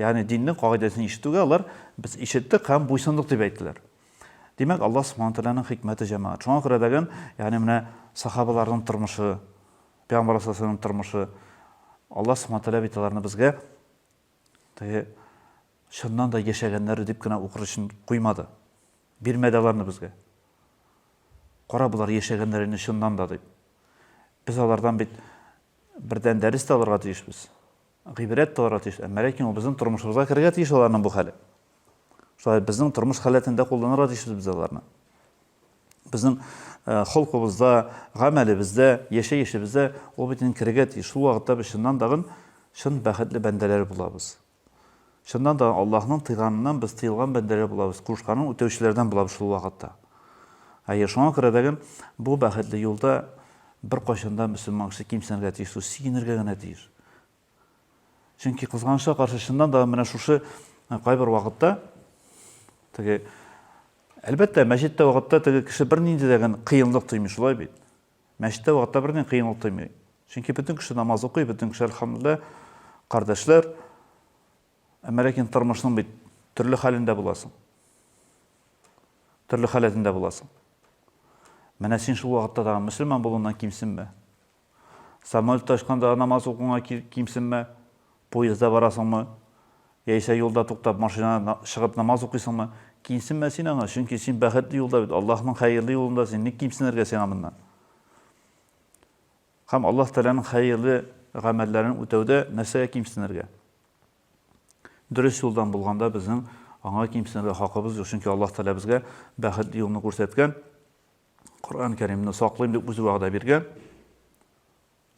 Ягъни диннең кагыйдәсен ишетүгә алар, Без ишеттек һәм буйсындык, дип әйттеләр. Димәк, Аллаһ Субхана Тәгаләнең хикмәте җәмәгать. Шуңа күрә дәген, ягъни менә сахабаларның тормышы, Пәйгамбәр Алейһиссәламның тормышы, Аллаһ Субхана Тәгалә бит аларны безгә теге чыннан да яшәгәннәр дип кенә укыр өчен куймады. Бирмәде аларны безгә. Кара, болар яшәгәннәр инде чыннан да дип. Без алардан бит бердән дәрес тә алырга тиешбез. Гыйбрәт тылырга тиеш. Әмма ләкин ул безнең тормышыбызга керергә тиеш аларның бу хәле. Шулай безнең тормыш халәтендә кулланырга тиешбез без аларны. Безнең э, холкыбызда, гамәлебездә, яшәешебездә ул бит инде керергә тиеш. Шул вакытта без чыннан тагын чын бәхетле бәндәләр булабыз. Чыннан да, Аллаһның тыйганыннан без тыелган бәндәләр булабыз, кушканын үтәүчеләрдән булабыз шул вакытта. Әйе, шуңа күрә дә гел бу бәхетле юлда беркайчан да мөселман кеше кимсенергә тиеш түгел, сигенергә генә тиеш. Чөнки, кызганычка каршы, чыннан да менә шушы кайбер вакытта теге, әлбәттә, мәчеттә вакытта теге кеше бернинди дә гел кыенлык тоймый, шулай бит? Мәчеттә вакытта берни кыен ул тоймый. Чөнки бөтен кеше намаз укый, бөтен кеше, әлхәмдүлиллә, кардәшләр. Әмма ләкин тормышның бит төрле хәлендә буласың. Төрле халәтендә буласың. Менә син шул вакытта тагын мөселман булуыңнан кимсенмә. Самолетта очканда намаз укуыңа кимсенмә. Поездда барасыңмы, яисә юлда туктап машина чыгып намаз укыйсыңмы, кимсенмә син аңа, чөнки син бәхетле юлда бит, Аллаһның хәерле юлында син, ник кимсенергә сиңа моннан? Һәм Аллаһ Тәгаләнең хәерле гамәлләрен үтәүдә нәрсәгә кимсенергә? Дөрес юлдан булганда безнең аңа кимсенергә хакыбыз юк, чөнки Аллаһ Тәгалә безгә бәхетле юлны күрсәткән, Коръән Кәримне саклыйм дип үзе вәгъдә биргән.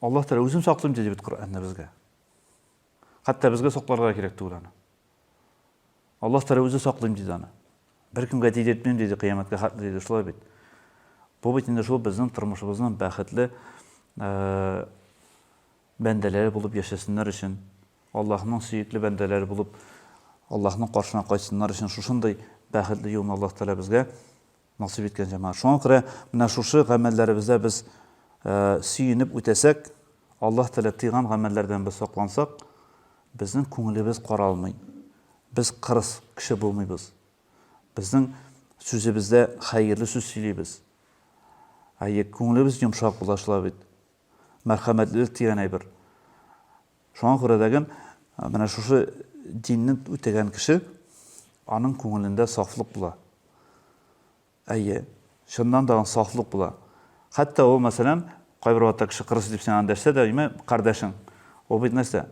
Аллаһ Тәгалә үзен саклыйм диде бит Коръәндә безгә. Хәтта безгә сакларга кирәк түгел аны. Аллаһ Тәгалә үзе саклыйм диде аны. Беркемгә тидертмим диде кыямәткә хәтле диде шулай бит. Бу бит инде шул безнең тормышыбызның бәхетле э, бәндәләре булып яшәсеннәр өчен, Аллаһның сөекле бәндәләре булып Аллаһның каршына кайтсыннар өчен шушындый бәхетле юлны Аллаһ Тәгалә безгә Насыйп иткән җәмәгать. Шуңа күрә менә шушы гамәлләребездә без сөенеп үтәсәк, Аллаһ Тәгалә тыйган гамәлләрдән без саклансак, безнең күңелебез каралмый. Без кырыс кеше булмыйбыз. Безнең сүзебездә хәерле сүз сөйлибез. Әйе, күңелебез йомшак була шулай бит. Мәрхәмәтлелек дигән әйбер. Шуңа күрә дәген менә шушы динне үтәгән кеше, аның күңелендә сафлык була. Әйе, чыннан да аның сафлык була. Хәтта ул, мәсәлән, кайбер вакытта кеше кырыс дип сиңа дәшсә дә, имә кардәшең. Ул бит нәрсә?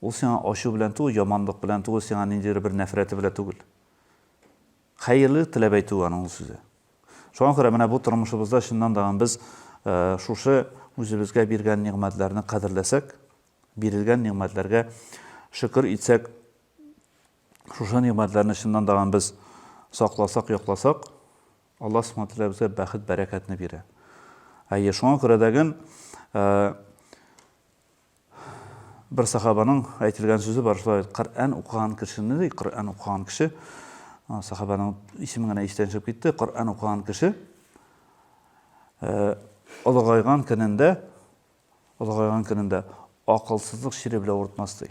Ул сиңа ачу белән түгел, яманлык белән түгел, сиңа ниндидер бер нәфрәте белән түгел. Хәерле теләп әйтү аның ул сүзе. Шуңа күрә менә бу тормышыбызда чыннан да без шушы үзебезгә биргән нигъмәтләрне кадерләсәк, бирелгән нигъмәтләргә шөкер итсәк, шушы нигъмәтләрне чыннан да без сакласак, якласак, Алла Субхана Тәгалә безгә бәхет, бәрәкәтне бирә. Әйе, шуңа күрә дәген Бер сахабаның әйтелгән сүзе бар, шулай бит, Коръән укыган кешене, ди, Коръән укыган кеше, сахабаның исеме генә истән чыгып китте, Коръән укыган кеше олыгайган көнендә, олыгайган көнендә акылсызлык чире белән уртмас, ди.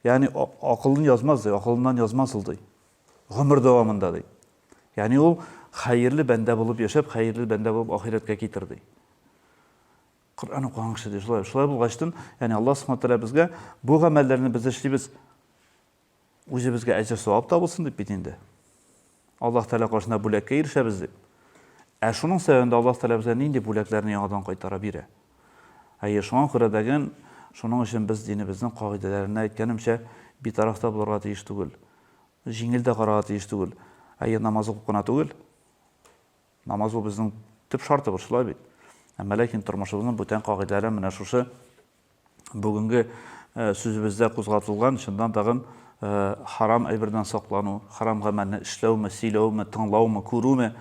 Ягъни акылын язмас ди, акылыннан язмас ул ди. Гомер дәвамында ди. Ягъни ул хәерле бәндә булып яшәп, хәерле бәндә булып ахирәткә китер ди. Коръән укыган кеше ди, шулай. Шулай булгачтын, ягъни Аллаһ Субхаһу ва Тааля безгә бу гамәлләрне без эшлибез. Үзебезгә әҗер-савап табылсын дип бит инде. Аллаһ Тәгалә каршында бүләккә ирешәбез дип. Ә шуның сәбәбендә Аллаһ Тәгалә безгә нинди бүләкләрне яңадан кайтара бирә? Әйе, шуңа күрә дәген, шуның өчен без динебезнең кагыйдәләренә, әйткәнемчә, битараф та булырга тиеш түгел. Җиңел дә карарга тиеш түгел. Әйе, намаз укып кына түгел. Намаз ул безнең төп шартыбыз, шулай бит. Әмма ләкин тормышыбызның бүтән кагыйдәләре менә шушы бүгенге сүзебездә кузгатылган, чыннан тагын, харам әйбердән саклану, харам гамәлне эшләүме, сөйләүме, тыңлаумы, күрүме,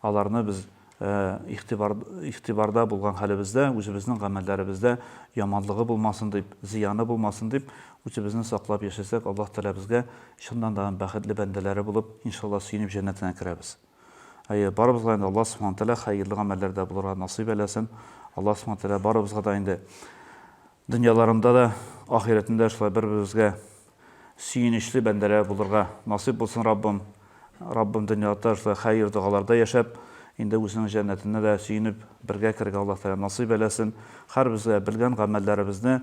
аларны без игътибар, игътибарда булган хәлебездә, үзебезнең гамәлләребездә яманлыгы булмасын дип, зыяны булмасын дип, үзебезне саклап яшәсәк, Аллаһ Тәгалә безгә чыннан тагын бәхетле бәндәләре булып, иншалла, сөенеп җәннәтенә керәбез. Әйе, барыбызга инде Алла Субхана Тәгалә хәерле гамәлләр дә булырга насыйп әйләсен. Алла Субхана Тәгалә барыбызга да инде дөньяларында да, ахирәтендә шулай бер-беребезгә сөенечле бәндәләр булырга насыйп булсын Раббым. Раббым дөньяда шулай хәер догаларда яшәп, инде үзенең җәннәтенә дә сөенеп, бергә керергә Алла Тәгалә насыйп әйләсен. Һәрбезгә белгән гамәлләребезне